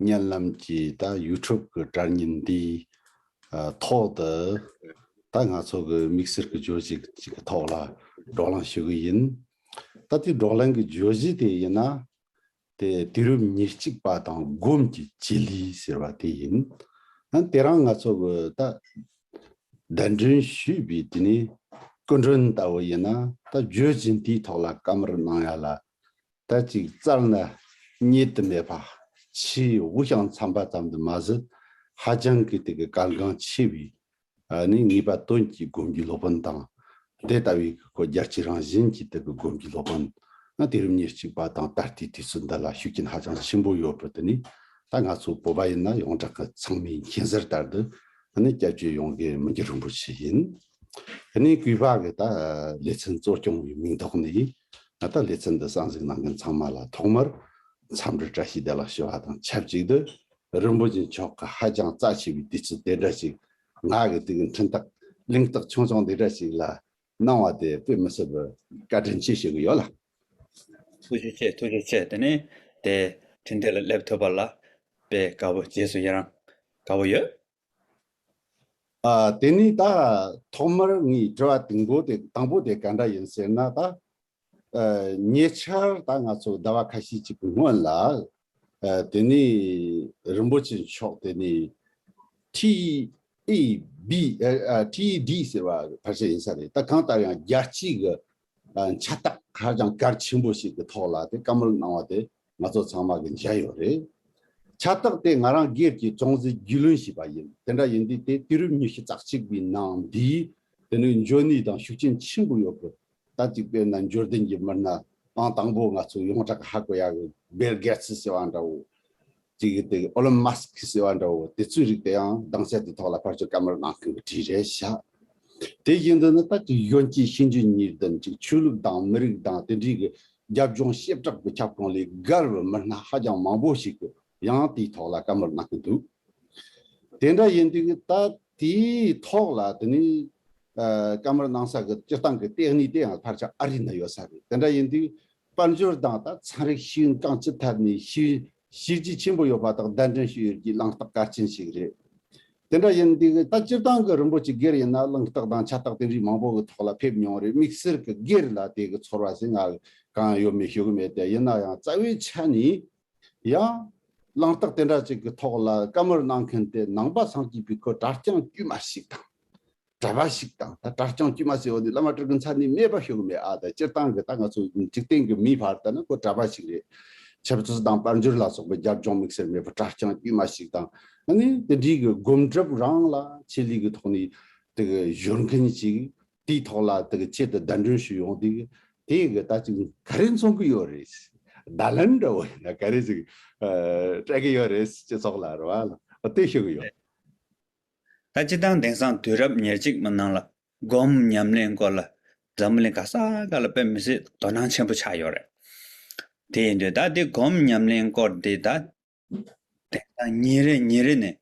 སྙན་ལམ་གྱི་ད་ཡུ་ཐུབ་གི་དྲ་བརྙན་འདིའི་ཐོག་ཏུ་ད་ང་ཚོ་གི་དམིགས་བསལ་གི་བརྗོད་གཞི་ཞིག་གི་ཐོག་ལ་སྒྲོག་ལངས་ཞུ་གི་ཡིན། ད་དེ་སྒྲོག་ལངས་གི་བརྗོད་གཞི་དེ་ཡིན་ན། དེ་དུས་རབས་ཉེར་གཅིག་པ་དང་སྒོམ་གྱི་སྤྱི་ལེ་ཟེར་བ་དེ་ཡིན། ཡང་དེ་རང་ང་ཚོ་གི་ད་བདེན་དྲན་ཞུས་པའི་དེ་ནས་སྐུ་མགྲོན་ལྟ་བུ་ཡིན་ན་ད་བརྗོད་གཞི་འདིའི་ཐོག་ལ་བཀའ་མར་གནང་ཡ་ལ་ད་ཅིག་བཙར་ན་རྙེད་དུ་མེད་པ། ཕྱི་དབུགས་ཀྱང་འཚམ་པ་ཙམ་དུ་མ་ཟད་ཧ་ཅང་གི་དེ་གི་གལ་འགངས་ཆེ་བས་ནི་ངེས་པ་དོན་གྱི་སྒོམ་རྒྱུའི་སློབ་དཔོན་དང། དེ་ལྟ་བུའི་གི་གོ་རྒྱ་ཆེ་རང་བཞིན་གྱི་དེ་གི་སྒོམ་རྒྱུའི་སློབ་དཔོན་དེ་རིམ་ཉེར་གཅིག་པ་དང་ད་ལྟའི་དུས་ཚོད་འདི་ལ་ཤུགས་རྐྱེན་ཧ་ཅང་ཆེན་པོ་ཡོད་པས་དེ་ནི་ད་ང་ཚོ་བོད་པ་ཡིན་ན་ཡོངས་གྲགས་ཀྱི་ཚང་མའི་མཁྱེན་གསལ་ལྟར་དུ་ནི་སྐྱབས་བཅོལ་ཡོང་གི་མི་འགྱུར་རིན་པོ་ཆེ་ཡིན། གནས་གུས་པ་གི་ད་ལེ་ཚན་གཙོ་སྐྱོང་བའི་མིང་ཐོག་ནས། ང་ལྟར་ལེ་ཚན་འདི་གསང་གཟིགས་གནང་མཁན་ཚང་མ་ལ་ཐོག་མར་འཚམས་འདྲི་བཀྲ་ཤིས་བདེ་ལགས་ཞུ་བ་དང་ཆབས་ཅིག་ཏུ་རིན་པོ་ཆེ་མཆོག་གི་ཧ་ཅང་རྩ་ཆེ་བའི་དུས་ཚོད་དེ་འདྲ་ཞིག་ང་གི་དུས་ཀྱི་མཐུན་རྟགས་གླེང་རྟགས་ཆུང་ཆུང་འདི་འདྲ་ཞིག་ལ་གནང་བ་དེ་དཔེ་མི་སྲིད་པར་བཀའ་དྲིན་ཆེ་ཞུ་གི་ཡོད་ལགས། ཐུགས་རྗེ་ཆེ་ཐུགས་རྗེ་ཆེ་དེ་ནས་དེ་དྲིན་དེ་ལ་སླེབས་ཐུབ་པ་ལ་དཔེ་དགའ་བོ་རྗེས་སུ་ཡི་རང་དགའ་བོ་ཡོད། དེ་ནི་ད་ཐོག་མར་ངས་དྲི་བ་དང་པོ་དེ་དང་པོ་དེ་ག་འདྲ་ཡིན་ཟེར་ན་ད། ཉེ་ཆར་ད་ང་ཚོ་ཟླ་བ་ཁ་ཤས་ཅིག་གི་སྔོན་ལ། དེ་ནི་རིན་པོ་ཆེ་མཆོག་དེ་ནི། TED ཟེར་བ་ཕར་ཆེར་ཡིན་ས་རེད་ད་གང་ལྟར་ཡང་རྒྱལ་སྤྱིའི་གི་ཕྱག་རྟགས་ཧ་ཅང་གལ་ཆེན་པོ་ཞིག་གི་ཐོག་ལ་དེ་བཀའ་མོལ་གནང་བ་དེ་ང་ཚོ་ཚང་མ་གི་མཇལ་ཡོད་རེད། ཕྱག་རྟགས་དེ་ང་རང་སྒེར་གྱི་ཅུང་ཟད་རྒྱུས་ལོན་བྱས་པ་ཡིན་དེ་འདྲ་ཡིན་དུས་དེ་དུས་རིམ་ཉི་ཤུ་རྩ་གཅིག་པའི་ནང་འདི་དེ་ནི་འཇོན་ནུས་དང་ཤུགས་རྐྱེན་ཆེན་པོ་ཡོད་དགོས་ད་གཅིག་པའི་ན་འབྱོར་ལྡན་གྱི་མི་སྣ་ཨང་དང་པོ་ང་ཚོ་ཡོངས་གྲགས་ཧ་གོ་ཡ་གི་སྦེལ་གེ་ཚི་ཟེར་བ་འདྲ་བོ་གཅིག་གིས་དེ་ཨོ་ལོན་མ་སི་ཁི་ཟེར་བ་འདྲ་བོ་དེ་ཚོའི་རིགས་དེ་ཡང་གདངས་ཆ་དེ་ཐོག་ལ་ཕར་ཆོད་ཀ་མར་ནང་ཁུལ་གྱི་བྲིས་རེད་བཞག། དེ་བཞིན་དུ་ནི་ད་ལྟའི་གཞོན་སྐྱེས་ཤིང་ཇུས་ཉིས་ལྡན་གཅིག་ཆོས་ལུགས་དང་མི་རིགས་དང་དེ་འབྲེལ་གྱི་རྒྱབ་ལྗོངས་ཞེ་དྲག་པའི་ཁྱབ་ཁོངས་ལས་བརྒལ་བའི་མི་སྣ་ཧ་ཅང་མང་པོ་ཞིག་གིས་ཡང་དེའི་ཐོག་ལ་ཀ་མར་གནང་གི་འདུག་དེ་འདྲ་ཡིན་དུས་ད་དེའི་ཐོག་ལ་དེ་ནི་ཀ་མར་གནང་ས་གི་སྤྱིར་བཏང་གི་ལྟེགས་ནུས་དེ་ཡང་ཕར་ཆ་ཨ་རི་ན་ཡོད་ས་རེད་དེ་འདྲ་ཡིན་དུས་དཔལ་འབྱོར་དང་དང་ཚན་རིག་ཤེས་ཡོན་གང་ཅི་ཐད་ནས་ཤེས་ཡོན་ཤེས་རྒྱུ་ཆེན་པོ་ཡོད་པ་དག་གདན་འདྲེན་ཞུས་ཡོད་རྒྱུའི་བླངས་རྟགས་གལ་ཆེན་ཞིག་རེད། དེ་འདྲ་ཡིན་དུས་ད་སྤྱིར་བཏང་གི་རིན་པོ་ཆེ་སྒེར་ཡིན་ན་བླངས་རྟགས་དང་ཁྱད་རྟགས་དེ་འདྲའི་མང་པོ་གི་ཐོག་ལ་ཕེབས་མྱོང་རེད་དམིགས་བསལ་གི་སྒེར་ལ་དེ་གི་ཚོར་བ་ཞིག་ང་ལ་གང་ཡང་ཡོད་མེད་ཤོད་གི་མེད་དེ་ཡིན་ན་ཡང་རྩ་བའི་ཆ་ནས་ཡང། བླངས་རྟགས་དེ་འདྲ་ཅིག་གི་ཐོག་ལ་བཀའ་མོལ་གནང་མཁན་དེ་ནང་པ་སངས་རྒྱས་པའི་སྐུ་དྲག་རྐྱང་དཀྱུས་མ་ཞིག་དང། གྲྭ་པ་ཞིག་དང་ད་གྲྭ་རྐྱང་དཀྱུས་མ་ཟེར་བ་ནི་བླ་མ་སྤྲུལ་སྐུ་ཚར་གནས་སྨད་པ་ཞུགས་མེད་ཨ་ད་སྤྱིར་བཏང་གི་ད་ང་ཚོ་འཇིག་རྟེན་གྱི་མིའི་བར་ལྟ་ན་ཁོ་གྲྭ་པ་ཞིག་རེད། ཆབ་མཚོ་དང་དཔལ་འབྱོར་ལ་སོགས་པའི་རྒྱབ་ལྗོངས་དམིགས་བསལ་མེད་པར་གྲྭ་རྐྱང་དཀྱུས་མ་ཞིག་དང་ཨ་ནི་དེ་འདྲིའི་གི་སྒོམ་སྒྲུབ་རང་ལ་ཆེད་ལས་ཀྱི་ཐོག་ནས་དེ་གི་གཞོལ་མཁན་ཞིག་དེའི་ཐོག་ལ་དེ་གི་ཆེད་དུ་བརྡ་འདྲོན་ཞུས་ཡོང་དུས་དེ་གི་ད་ཅིག་ག་རེ་མཚོན་གྱི་ཡོད་རེད། བརྡ་ལན་འདྲ་བོ་ཡིན་ན་ག་རེ་ཞིག་སྤྲད་ཀྱི་ཡོད་རེད་སྤྱི་ཚོགས་ལ་རེ་བ་ལྟོས་ཤོར་གྱི་ཡོད། ད་སྤྱི་དང་དེང་སང་དུས་རབས་ཉེར་གཅིག་མི་སྣང་ལ་སྒོམ་ཉམས་ལེན་སྐོར་ལ་འཛམ་བུ་གླིང་ག་ས་ག་ལ་དཔེ་མི་སྲིད་དོ་སྣང་ཆེན་པོ་ཆགས་ཡོད་རེད། དེ་ཡིན་དུས་ད་འདི་སྒོམ་ཉམས་ལེན་སྐོར་འདི་ད་དེང་སང་ཉིན་རེ་ཉིན་རེ་ནས་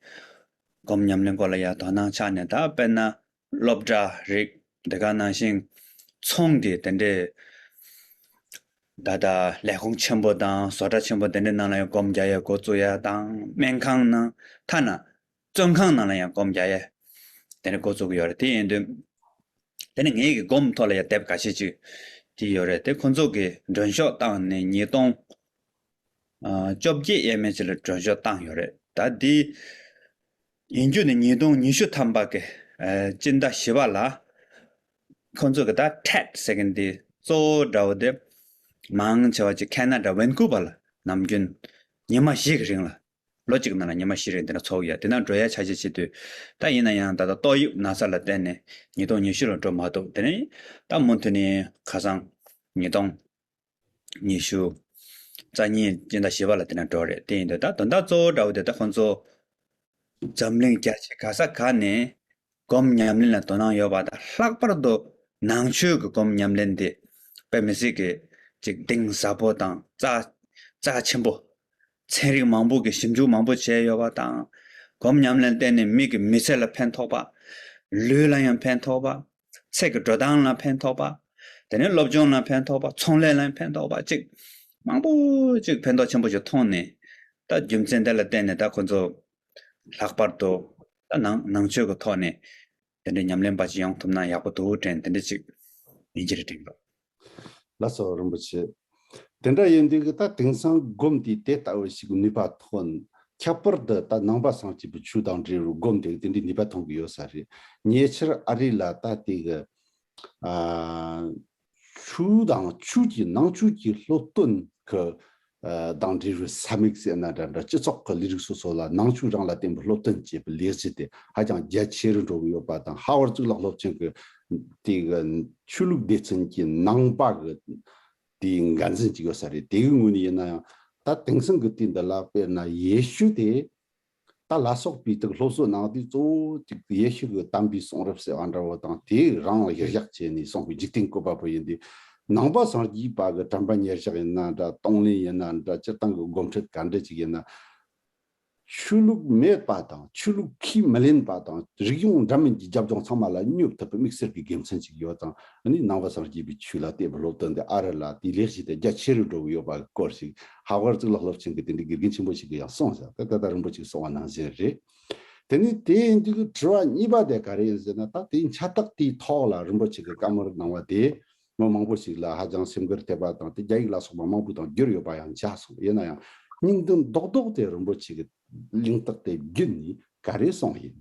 སྒོམ་ཉམས་ལེན་སྐོར་ལ་ཡང་དོ་སྣང་ཆགས་ནས་ད་དཔེར་ན་སློབ་གྲྭ་རིག་འདི་ག་ནང་བཞིན་ཚོང་གི་དེ་འདྲའི་ད་ལྟ་ལས་ཁུངས་ཆེན་པོ་དང་བཟོ་གྲྭ་ཆེན་པོ་དེ་འདྲའི་ནང་ལ་ཡང་སྒོམ་རྒྱག་ཡ་སྒོ་བཙུགས་ཡ་དང་སྨན་ཁང་ནང་ཐ་ན་བཙོན་ཁང་ནང་ལ་ཡང་སྒོམ་བརྒྱ་ཡས་དེ་འདྲ་འགོ་བཙུགས་ཡོད་རེད་དེ་ཡིན་དུས། དེ་ནས་ངེད་ཀྱི་སྒོམ་ཐོག་ལ་ཡང་དེབ་ག་ཤེད་ཅིག་བྲིས་ཡོད་རེད་དེ་ཁོ་ཚོ་གིས་མགྲོན་ཤོག་བཏང་ནས་ཉིས་སྟོང། བཅོ་བརྒྱད་ཡས་མས་ཅིག་ལ་མགྲོན་ཤོག་བཏང་ཡོད་རེད་ད་དེ། ཡིན་རྒྱུ་ནི་ཉིས་སྟོང་ཉི་ཤུ་ཐམ་པ་གི་སྤྱི་ཟླ་བཞི་པ་ལ། ཁོ་ཚོ་གིས་ད Tet ཟེར་མཁན་དེ་གཙོ་བོ་དགྲ་བོ་དེ། མང་ཆེ་བ་གཅིག Canada Vancouver ལ་ནམ་རྒྱུན་ཉི་མ་བཞི་གི་རིང་ལ་ལོ་གཅིག་གི་ནང་ལ་ཉི་མ་བཞི་རེ་འདི་འདྲ་འཚོགས་ཡོད་དེ་ནང་འགྲོ་ཡ་ཆ་བྱད་བྱེད་དུས་ད་ཡིན་ན་ཡང་ད་ལྟ་ཏོག་དབྱིབས་ན་ཚ་ལ་བརྟེན་ནས་ཉིས་སྟོང་ཉི་ཤུ་ལ་འགྲོ་མ་གཏོགས་དེ་རིང་ད་མུ་མཐུད་ནས་ཁ་སང། ཉིས་སྟོང། ཉི་ཤུ། རྩ་གཉིས་སྤྱི་ཟླ་བཞི་བ་ལ་དེ་འདྲ་འགྲོ་རེད་དེ་ཡིན་དུས་ད་དོན་དག་གཙོ་བོ་འདྲ་བོ་དེ་ད་ཁོང་ཚོ། འཛམ་གླིང་རྒྱ་ཆེ་ག་ས་ག་ནས་སྒོམ་ཉམས་ལེན་ལ་དོ་སྣང་ཡོད་པ་དང་ལྷག་པར་དུ་ནང་ཆོས་ཀྱི་སྒོམ་ཉམས་ལེན་དེ་བོད་མི་སྲིད་ཀྱི་གཅིག་གདེང་ཟབ་པོ་དང་རྩ་རྩ་ཆེན་པོ། ཚན་རིག་མང་པོ་གིས་ཞིབ་འཇུག་མང་པོ་བྱས་ཡོད་པ་དང། སྒོམ་ཉམས་ལེན་བརྟེན་ནས་མིག་གི་མི་ཚེ་ལ་ཕན་ཐོགས་པ། ལུས་ལ་ཡང་ཕན་ཐོགས་པ། ཚེ་གི་འགྲོ་སྟངས་ལ་ཕན་ཐོགས་པ། དེ་ནས་སློབ་སྦྱོང་ལ་ཕན་ཐོགས་པ་ཚོང་ལས་ལ་ཡང་ཕན་ཐོགས་པ་བཅས་མང་པོ་ཅིག་ཕན་ཐོགས་ཆེན་པོ་ཞིག་མཐོང་ནས་ད་རྒྱུ་མཚན་དེ་ལ་བརྟེན་ནས་ད་ཁོ་ཚོ་ལྷག་པར་དུ། ནང་ཆོས་ཀྱི་ཐོག་ནས་དེ་འདྲའི་ཉམས་ལེན་པ་ཅིག་ཡོང་ཐུབ་ན་ཡག་པོ་འདུག་དྲན་དེ་འདྲ་ཅིག་ཡིན་གྱི་རེད་དྲན་འདུག། ལ་སོགས་རིན་པོ་ཆེ། དེ་འདྲ་ཡིན་དུས་ད་དེང་སང་སྒོམ་དུས་དེ་ལྟ་བུ་ཞིག་ནུས་པ་ཐོན། ཁྱད་པར་དུ་ད་ནང་པ་སངས་སྐྱིད་པོ་ཆུ་དང་འབྲེལ་བའི་སྒོམ་དེ་དེ་འདྲའི་ནུས་པ་ཐོན་གྱི་ཡོད་ས་རེད། ཉེ་ཆར་ཨ་རི་ལ་ད་དེ་གི། ཆུ་དང་ཆུ་ཀྱི་ནང་ཆོས་ཀྱི་སློབ་སྟོན་གྱི་གདངས་འདྲིལ་བའི་ས་མིག་ཟེར་ན་འདྲ་འདྲ་སྤྱི་ཚོགས་ཀྱི་ལས་རིགས་སོ་སོ་ལ་ནང་ཆོས་རང་ལ་བརྟེན་པའི་སློབ་སྟོན་བྱེད་པའི་ལས་གཞི་དེ་ཧ་ཅང་རྒྱ་ཆེ་རུ་འགྲོ་གི་ཡོད་པ་དང་ཧ་ཝར་གཙུག་ལག་སློབ་ཆེན་གྱི་དེ་གི་ཆོས་ལུགས་སྡེ་ཚན་གྱི་ནང་པ་གི་དེ་འགན་འཛིན་གཅིག་ཡོད་ས་རེད་དེ་གི་ངོས་ནས་ཡིན་ན་ཡང་ད་དེང་སང་གི་དུས་འདི་ལ་དཔེར་ན་ཡེ་ཤུ་དེ་རྟ་ལ་སོགས་པའི་དུག་སློབ་གསོ་གནང་དུས་གཙོ་བོ་གཅིག་ཏུ་ཡེ་ཤུ་གི་དམ་པའི་གསུང་རབ་ཟེར་བ་འདྲ་བོ་དང་དེས་རང་ལ་གཞིར་བཞག་བྱས་ནས་གསུངས་པའི་འཇིག་རྟེན་བཀོད་པ་པོ་ཡིན་དུས། ནང་པ་སངས་རྒྱས་པ་གི་དྲན་པ་ཉེར་གཞག་ཡིན་ན་འདྲ་གཏོང་ལེན་ཡིན་ན་འདྲ་སྤྱིར་བཏང་གི་སྒོམ་ཁྲིད་ག་འདྲི་ཅིག་ཡིན་ན། ཆོས་ལུགས་མེད་པ་དང་ཆོས་ལུགས་ཁས་མི་ལེན་པ་དང་རིག་གཞུང་འདྲ་མིན་གྱི་རྒྱབ་ལྗོངས་ཚང་མ་ལ་སྙོབ་ཐུབ་པའི་དམིགས་བསལ་གྱི་དགེ་མཚན་ཅིག་ཡོད་ཙང་ནི་ནང་པ་སངས་རྒྱས་པའི་ཆོས་ལ་གཏད་པའི་སློབ་སྟོན་དེ་ཨ་རི་ལ་དེའི་ལེགས་བྱས་དེ་རྒྱ་ཆེ་རུ་འགྲོ་གི་ཡོད་པ་སྐོར་ཞིག་ཧ་བར་གཙུག་ལག་སློབ་ཆེན་གྱི་དེ་འདྲའི་དགེ་རྒན་ཆེན་པོ་ཞིག་གི་ཡང་སོང་བཞག་སྟེ་ད་ལྟ་རིན་པོ་ཆེ་སོང་བ་ནང་བཞིན་རེད། དེ་ནས་དེའི་མཇུག་གི་དྲི་བ་གཉིས་པ་དེ་ག་རེ་ཡིན་ཟེར་ན་ད་དེའི་ཁྱད་རྟགས་དེའི་ཐོག་ལ་རིན་པོ་ཆེ་གི་བཀའ་མོལ་གནང་བ་དེས་མི་མང་པོ་ཞིག་ལ་ཧ་ཅང་སེམས་འཁུར་ཐེབས་པ་དང་དེ་རྒྱ་ཡིག་ལ་སོགས་པ་མང་པོ་དང་བསྒྱུར་ཡོད་པ་ཡང་འཇགས་སོང་ཡིན་ན་ཡང་སྙིང་དོན་རྡོག་རྡོག་དེ་རིན་པོ་ཆེ་གི་གླེང་རྟགས་དེ་བརྒྱུད་ནས་ག་རེ་སོང་ཡིན།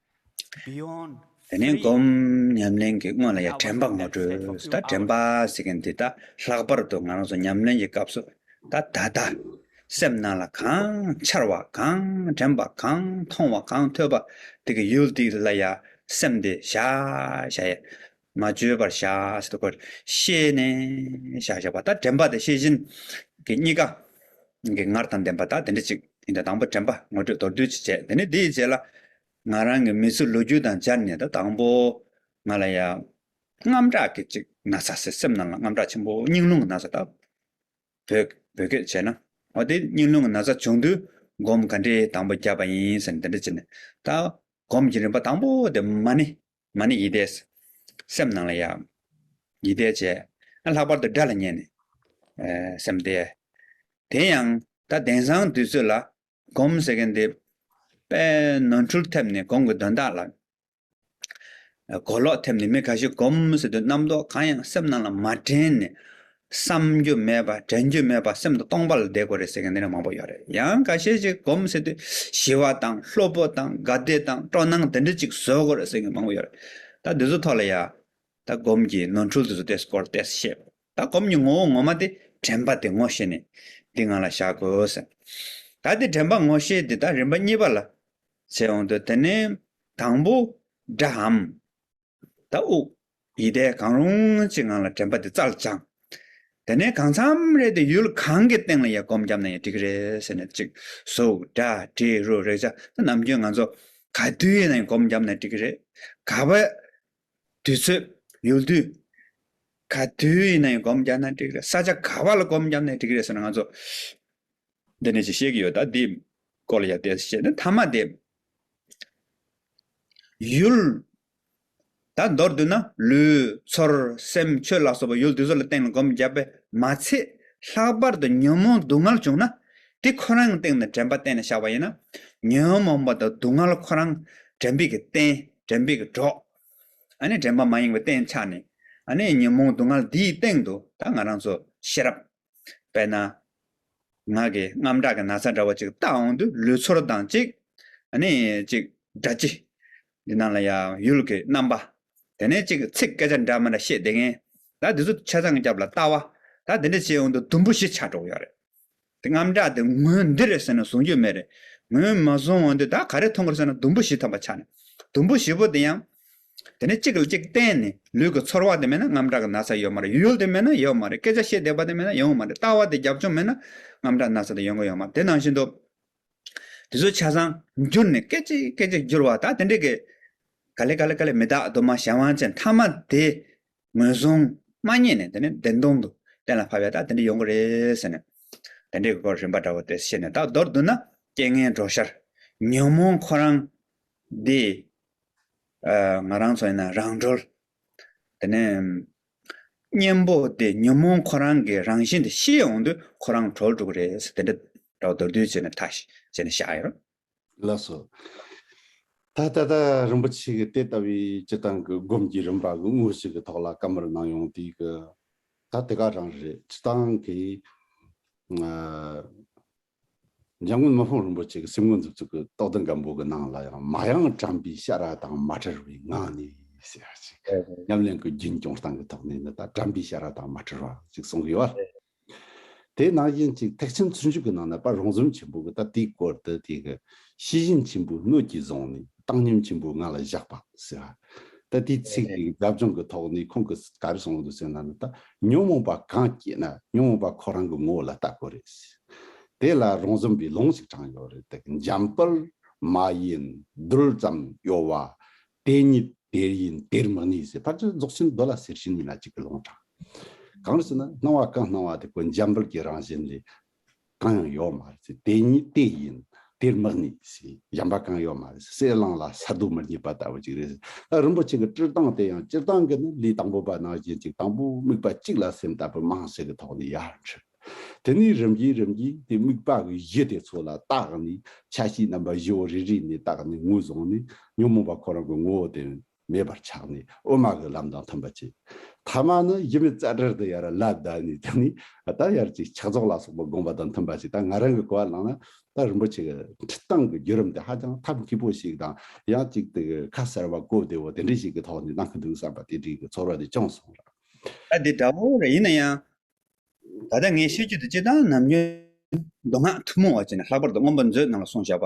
དེ་ནས་སྒོམ་ཉམས་ལེན་གྱི་སྔོན་ལ་ཡང་དྲན་པ་ངོ་སྤྲོད་དང་དྲན་པ་ཟེར་མཁན་དེ་དག་ལྷག་པར་དུ་ང་རང་ཚོ་ཉམས་ལེན་གྱི་སྐབས་སུ་ད་ད་ད། སེམས་ནང་ལ་གང་འཆར་བ་གང་དྲན་པ་གང་མཐོང་བ་གང་ཐོས་པ་དེ་གི་ཡུལ་དེ་ལ་ཡང་སེམས་དེ་བཞག་བཞག་ཡ། མ་བཅོས་པར་བཞག་ཅེས་སོགས་པར་ཤེས་ནས་བཞག་བཞག་པ་ལྟར་དྲན་པ་དེ་ཤེས་བཞིན་གྱི་གཉིས་ཀ་གི་ངར་དང་ལྡན་པ་དག་དེ་འདྲ་གཅིག་ཡིན་ཏེ་དང་པོ་དྲན་པ་ངོ་སྤྲོད་མདོར་བསྡུས་ཀྱིས་བྱས་དེ་ནས་དེའི་རྗེས་ལ་ང་རང་གི་མི་ཚེ་ལོ་རྒྱུས་དང་སྦྱར་ནས་ད་དང་པོ་ང་ལ་ཡང་རྔམ་སྐྲག་གི་ཅིག་ན་ཚ་སེ་སེམས་ནང་ལ་རྔམ་སྐྲག་ཆེན་པོ་སྙིང་རླུང་གི་ན་ཚ་དག་བོད་བོད་སྐད་བྱས་ན་འོ་དེ་སྙིང་རླུང་གི་ན་ཚ་བྱུང་དུས་སྒོམ་ག་འདྲའི་དང་པོ་བརྒྱབ་པ་ཡིན་ཟེར་ནས་དེ་འདྲ་བྱས་ནས་ད་སྒོམ་གྱི་རིམ་པ་དང་པོ་དེ་མ་ནི་མ་ནི་ཡིད་བདེ། སེམས་ནང་ལ་ཡང། ཡིད་བདེ་བྱས། ལྷག་པར་དུ་སྒྲ་ལ་མཉན་ནས། སེམས་བདེ། དེ་ཡང། ད་དེང་སང་དུས་ཚོད་ལ། སྒོམ་ཟེར་མཁན་དེ། དཔེ། ནོར་འཁྲུལ་ཐེབས་ནས་གོང་གི་དོན་དག་ལ། གོ་ལོག་ཐེབས་ནས་མི་ག་ཤེད་སྒོམ་ཟེར་དུས་རྣམ་རྟོག་གང་ཡང་སེམས་ནང་ལ་མ་དྲན་ནས། བསམ་རྒྱུ་མེད་པ་དྲན་རྒྱུ་མེད་པ་སེམས་དང་སྟོང་པ་ལ་བསྡད་དགོས་རེད་ཟེར་མཁན་འདི་འདྲ་མང་པོ་ཡོད་རེད་ཡང་ག་ཤེད་ཅིག་གོམས་སེ་དུས་ཞི་བ་དང་ལྷོད་པོ་དང་དགའ་བདེ་དང་སྤྲོ་སྣང་དེ་འདྲ་ཅིག་བཟོ་དགོས་རེད་ཟེར་མཁན་མང་པོ་ཡོད་རེད་ད་འདི་ཚོ་ཐོག་ལ་ཡང་ད་སྒོམ་གྱི་ནོར་འཁྲུལ་དེ་ཚོ་དེ་སྐོར་བལྟས་ཤེས་དགོས་ད་སྒོམ་གྱི་ངོ་བོ་ངོ་མ་དེ་དྲན་པ་དེ་ངོ་ཤེས་ནས་འདི་ང་ལ་བཞག་དགོས་ཟེར་ན་ད་དེ་དྲན་པ་ངོ་ཤེས་དེ་ད་རིམ་པ་གཉིས་པ་ལ་བྱེད་འོང་དུས་དེ་ནས་དང་པོ་འདྲ་འམ། ད་དབུགས། ཡིད་བདེ་གང་རུང་ཅིག་ངང་ལ་དྲན་པ་དེ་རྩ་ལ་བཅང། དེ་ནས་གང་འཚམས་རེ་དེ་ཡུལ་གང་གི་སྟེང་ལ་ཡར་སྒོམ་བརྒྱབ་ན་ཡང་འགྲིག་གི་རེད་ཟེར་ནས་ཅིག་གཟུགས་སྒྲ་དྲི་རོ་རེག་བྱ་དེ་ནམ་རྒྱུན་ང་ཚོ་ག་དུས་ཡིན་ན་ཡང་སྒོམ་བརྒྱབ་ན་འགྲིག་གི་རེད། ག་བའི་དུས་ཚོད། ཡུལ་དུས། ག་དུས་ཡིན་ན་ཡང་སྒོམ་བརྒྱབ་ན་འགྲིག་གི་རེད་ས་ཆ་ག་བ་ལ་སྒོམ་བརྒྱབ་ན་འགྲིག་གི་རེད་ཟེར་ན་ང་ཚོ་འདི་ནས་ཅིག་ཤེས་ཀྱི་ཡོད་ད་འདིའི་སྐོར་ལ་ཡར་བལྟས་ཟེར་བྱས་ནས་མཐའ་མ་དེ་ཡུལ། ད་མདོར་བསྡུ་ན་ལུས། ཚོར། སེམས། ཆོས་ལ་སོགས་པ་ཡུལ་དེ་ཚོ་ལ་སྟེང་ལ་སྒོམ་རྒྱག་པས་མ་ཚད། ལྷག་པར་དུ་ཉོན་མོངས་སྡུག་བསྔལ་བྱུང་ན། དེ་ཁོ་རང་གི་སྟེང་ནས་དྲན་པ་གཏན་ནས་བཞག་པ་ཡིན་ན། ཉོན་མོངས་པ་དང་སྡུག་བསྔལ་ཁོ་རང། དྲན་པས་ཀྱི་བརྟེན། དྲན་པས་ཀྱི་གྲོགས། ཨ་ནི་དྲན་པ་མ་ཡེངས་པའི་སྟེང་ཆགས་ནས། ཨ་ནི་ཉོན་མོངས་སྡུག་བསྔལ་འདིའི་སྟེང་དུ་ད་ང་རང་ཚོ་ཤེས་རབ། དཔེར་ན། ངག་གི་རྔམ་སྐྲག་གི་ན་ཚ་འདྲ་བ་ཅིག་བཏགས་འོང་དུས་ལུས་ཚོར་དང་ཅིག། ནི་ཅིག། སྒྲ་སྤྱི། འདི་རྣམས་ལ་ཡང་ཡུལ་གྱི་རྣམ་པ། དེ་ནས་ཅིག་ཚིག་སྐད་ཆ་འདྲ་མི་འདྲ་བཤད་བསྡད་མཁན། ད་འདི་ཚོ་ཆ་ཚང་སྐྱབས་ལ་ལྟ་བ། ད་འདི་འདྲ་བྱས་འོང་དུས་དུམ་བུ་བཞི་ཆགས་འགྲོ་གི་ཡོད་རེད། དེ་རྔམ་སྐྲག་དེ་ངོས་འདི་རེད་ཟེར་ན་བཟུང་རྒྱུ་མེད་རེད། ངོས་མ་བཟུང་འོང་དུས་ད་ག་རེ་མཐོང་གི་རེད་ཟེར་ན་དུམ་བུ་བཞི་ཐམ་པ་ཆགས་ནས། དུམ་བུ་བཞི་པོ་དེ་ཡང། དེ་ནས་གཅིག་ལ་གཅིག་བརྟེན་ནས་ལུས་ཀྱི་ཚོར་བ་དེ་མེད་ན་རྔམ་དྲག་གི་ན་ཚ་ཡོད་མ་རེད་ཡུལ་ཡུལ་དེ་མེད་ན་ཡོད་མ་རེད་སྐད་ཆ་བཤད་བསྡད་པ་དེ་མེད་ན་ཡོང་མ་རེད་ལྟ་བ་དེ་རྒྱབ་ལྗོངས་མེད་ན་རྔམ་དྲག་ན་ཚ་དེ་ཡོང་གི་ཡོད་མ་རེད་དེ་ནང་བཞིན་དུ། དེ་ཚོའི་ཆ་ཚང་བསྒྱུར་ནས་སྐད་ཅིག་སྐད་ཅིག་བསྒྱུར་བ་དང་དེ་འདྲའི་གི། ག་ལེ་ག་ལེ་ག་ལེ་མི་དག་གདོད་མ་གཞན་དབང་ཅན་མཐའ་མ་དེ་ངོས་བཟུང་མ་རྙེད་ནས་དེ་ནས་བདེན་སྟོང་དུ་གཏན་ལ་ཕབ་ཡ་དག་དེ་འདྲ་ཡོང་གི་རེད་ཟེར་ནས། དེ་འདྲའི་གི་སྐོར་རིམ་པ་འདྲ་བོ་དེ་བཤད་ནས་དག་མདོར་བསྡུ་ན་རྐྱེན་ངན་གྲོགས་ཤར། ཉོན་མོངས་ཁོ་རང་འདི། ང་རང་ཚོ་ཡིན་ན་རང་གྲོལ། དེ་ནས་གཉེན་པོ་དེ་ཉོན་མོངས་ཁོ་རང་གི་རང་བཞིན་དེ་ཤེས་འོང་དུས་ཁོ་རང་གྲོལ་འགྲོ་གི་རེད་དེ་འདྲ་འདྲ་བ་མདོར་བསྡུས་བྱས་ནས་ཐག་བཅད་ནས་བཞག་ཡོད། ལགས་སོ། ད་ལྟ་ད་རིན་པོ་ཆེ་གི་དེ་ལྟ་བུའི་སྤྱི་བཏང་གི་སྒོམ་གྱི་རིམ་པ་གི་དངོས་གཞི་གི་ཐོག་ལ་བཀའ་མོལ་གནང་ཡོང་དུས་ཀྱི་ད་དེ་ག་རང་རེད་སྤྱི་བཏང་གི། འཇམ་མགོན་མི་ཕམ་རིན་པོ་ཆེ་གི་སེམས་ངོ་མཛུབ་ཚུགས་ཀྱི་ཏོག་ལྡན་གམ་བུ་གི་ནང་ལ་ཡང་མ་གཡང་བཀྲམ་པའི་ཤ་ར་དང་མ་བྲལ་བའི་ངང་ནས། ཉམས་ལེན་གྱི་རྒྱུན་སྐྱོང་སྟངས་ཀྱི་ཐོག་ནས་འདི་ལྟར་བཀྲམ་པའི་ཤ་ར་དང་མ་བྲལ་བ་ཞིག་གསུང་གི་ཡོད། དེ་ནང་བཞིན་གྱི་ཐེག་ཆེན་ཚུར་འཇུག་གི་ནང་ན་པ་རོང་ཟོམ་ཆེན་པོ་གི་ད་ལྟའི་སྐོར་དུ་དེ་གི་ཤེས་བཞིན་ཆེན་པོའི་སྣོད་ཀྱིས་བཟུང་ནས། བཏང་སྙོམས་ཆེན་པོས་ང་ལ་བཞག་པ། ཟེར། ད་དེའི་ཚིག་དེ་རྒྱབ་ལྗོངས་ཀྱི་ཐོག་ནས་ཁོང་གིས་ག་རེ་གསུངས་འདུག་ཟེར་ན་ནི་ད་ཉོན་མོངས་པ་གང་སྐྱེས་ན་ཉོན་མོངས་པ་ཁོ་རང་གི་ངོ་བོ་ལ་ལྟ་དགོས་རེད། དེ་ལ་རང་བཟོ་འབའི་ལུང་ཞིག་དྲངས་ཡོད་རེད་དེ། འཇམ་དཔལ། མ་ཡིན། རྡུལ་ཙམ་གཡོ་བ། དེ་ཉིད་དེར་ཡིན་དེར་མི་གནས་ཟེར། ཕར་ཕྱིན་རྫོགས་ཆེན་རྡོ་ལ་ཟེར་བཞིན་ཡིན་ལ་གཅིག་གི་ལུང་དྲངས། གང་རེད་ཟེར་ན་སྣང་བ་གང་སྣང་བ་དེ་ཁོ་འཇམ་དཔལ་གྱི་རང་བཞིན་ལས་གང་ཡང་ཡོད་མ་རེད་ཟེར་དེ་ཉིད་དེ་ཡིན། དེར་དམག་ནི་ཟེར་གཞན་པ་གང་ཡོད་མ་རེད་ཟེར་གསེར་གླང་ལ་ས་རྡོ་མི་རྙེད་པ་ལྟ་བུ་ཅིག་རེད་ཟེར། ད་རིན་པོ་ཆེ་གི་སྤྱིར་བཏང་དེ་ཡང་སྤྱིར་བཏང་གི་ནི་ལུས་དང་པོ་པ་ནང་བཞིན་ཅིག་དང་པོའི་དམིགས་པ་གཅིག་ལ་སེམས་ལྟ་བུ་དམངས་སྲིད་ཀྱི་ཐོག་ནས་ཡར་འཁྲིད། དེ་ནས་རིམ་གྱིས་རིམ་གྱིས་དེ་དམིགས་པ་གི་གཞི་དེ་ཚོ་ལ་བརྟགས་ནས་ཆ་ཤས་རྣམ་པ་བཞི་བོ་རེ་རེ་ནས་བརྟགས་ནས་ངོས་བཟུང་ནས་ཉོན་མོངས་པ་ཁོ་རང་གི་ངོ་བོ་དེ། མེད་པར་ཆགས་ནས་དབུ་མ་གི་ལམ་དང་མཐུན་པར་བྱེད། ཐ་མ་ནི་ཡིད་མི་བརྩད་བྲལ་དུ་ཡར་ལ་བསྡད་ནས་དེ་ནས་ད་ཡར་གྱི་ཕྱག་རྫོགས་ལ་སོགས་པ་དགོངས་པ་དང་མཐུན་པར་བྱེད་ད་ང་རང་གི་གོ་བ་བླངས་ན་ད་རིན་པོ་ཆེ་གི་ཁྲིད་སྟངས་ཀྱི་བརྒྱུད་རིམ་དེ་ཧ་ཅང་ཐབས་སྐྱིད་པོ་ཞིག་དང་ཡང་གཅིག་དེ་གི་ཁ་གསལ་བ་གོ་བདེ་བོ་དེ་འདྲ་ཞིག་གི་ཐོག་ནས་གནང་གི་འདུག་བསམ་པ་དེ་འདྲའི་གི་ཚོར་བ་དེ་ཅུང་སོང་ར། ད་དེ་འདྲ་བོ་རེད་ཡིན་ན་ཡང་ད་ལྟ་ངའི་ཤེས་རྒྱུད་དུ་སྤྱི་བཏང་ནམ་རྒྱུན་མདོ་སྔགས་ཐུན་མོང་བ་བྱས་ནས་ལྷག་པར་དུ་སྔོན་པོ་མཛོད་རྣམས་ལ་སོང་བཞག་པ་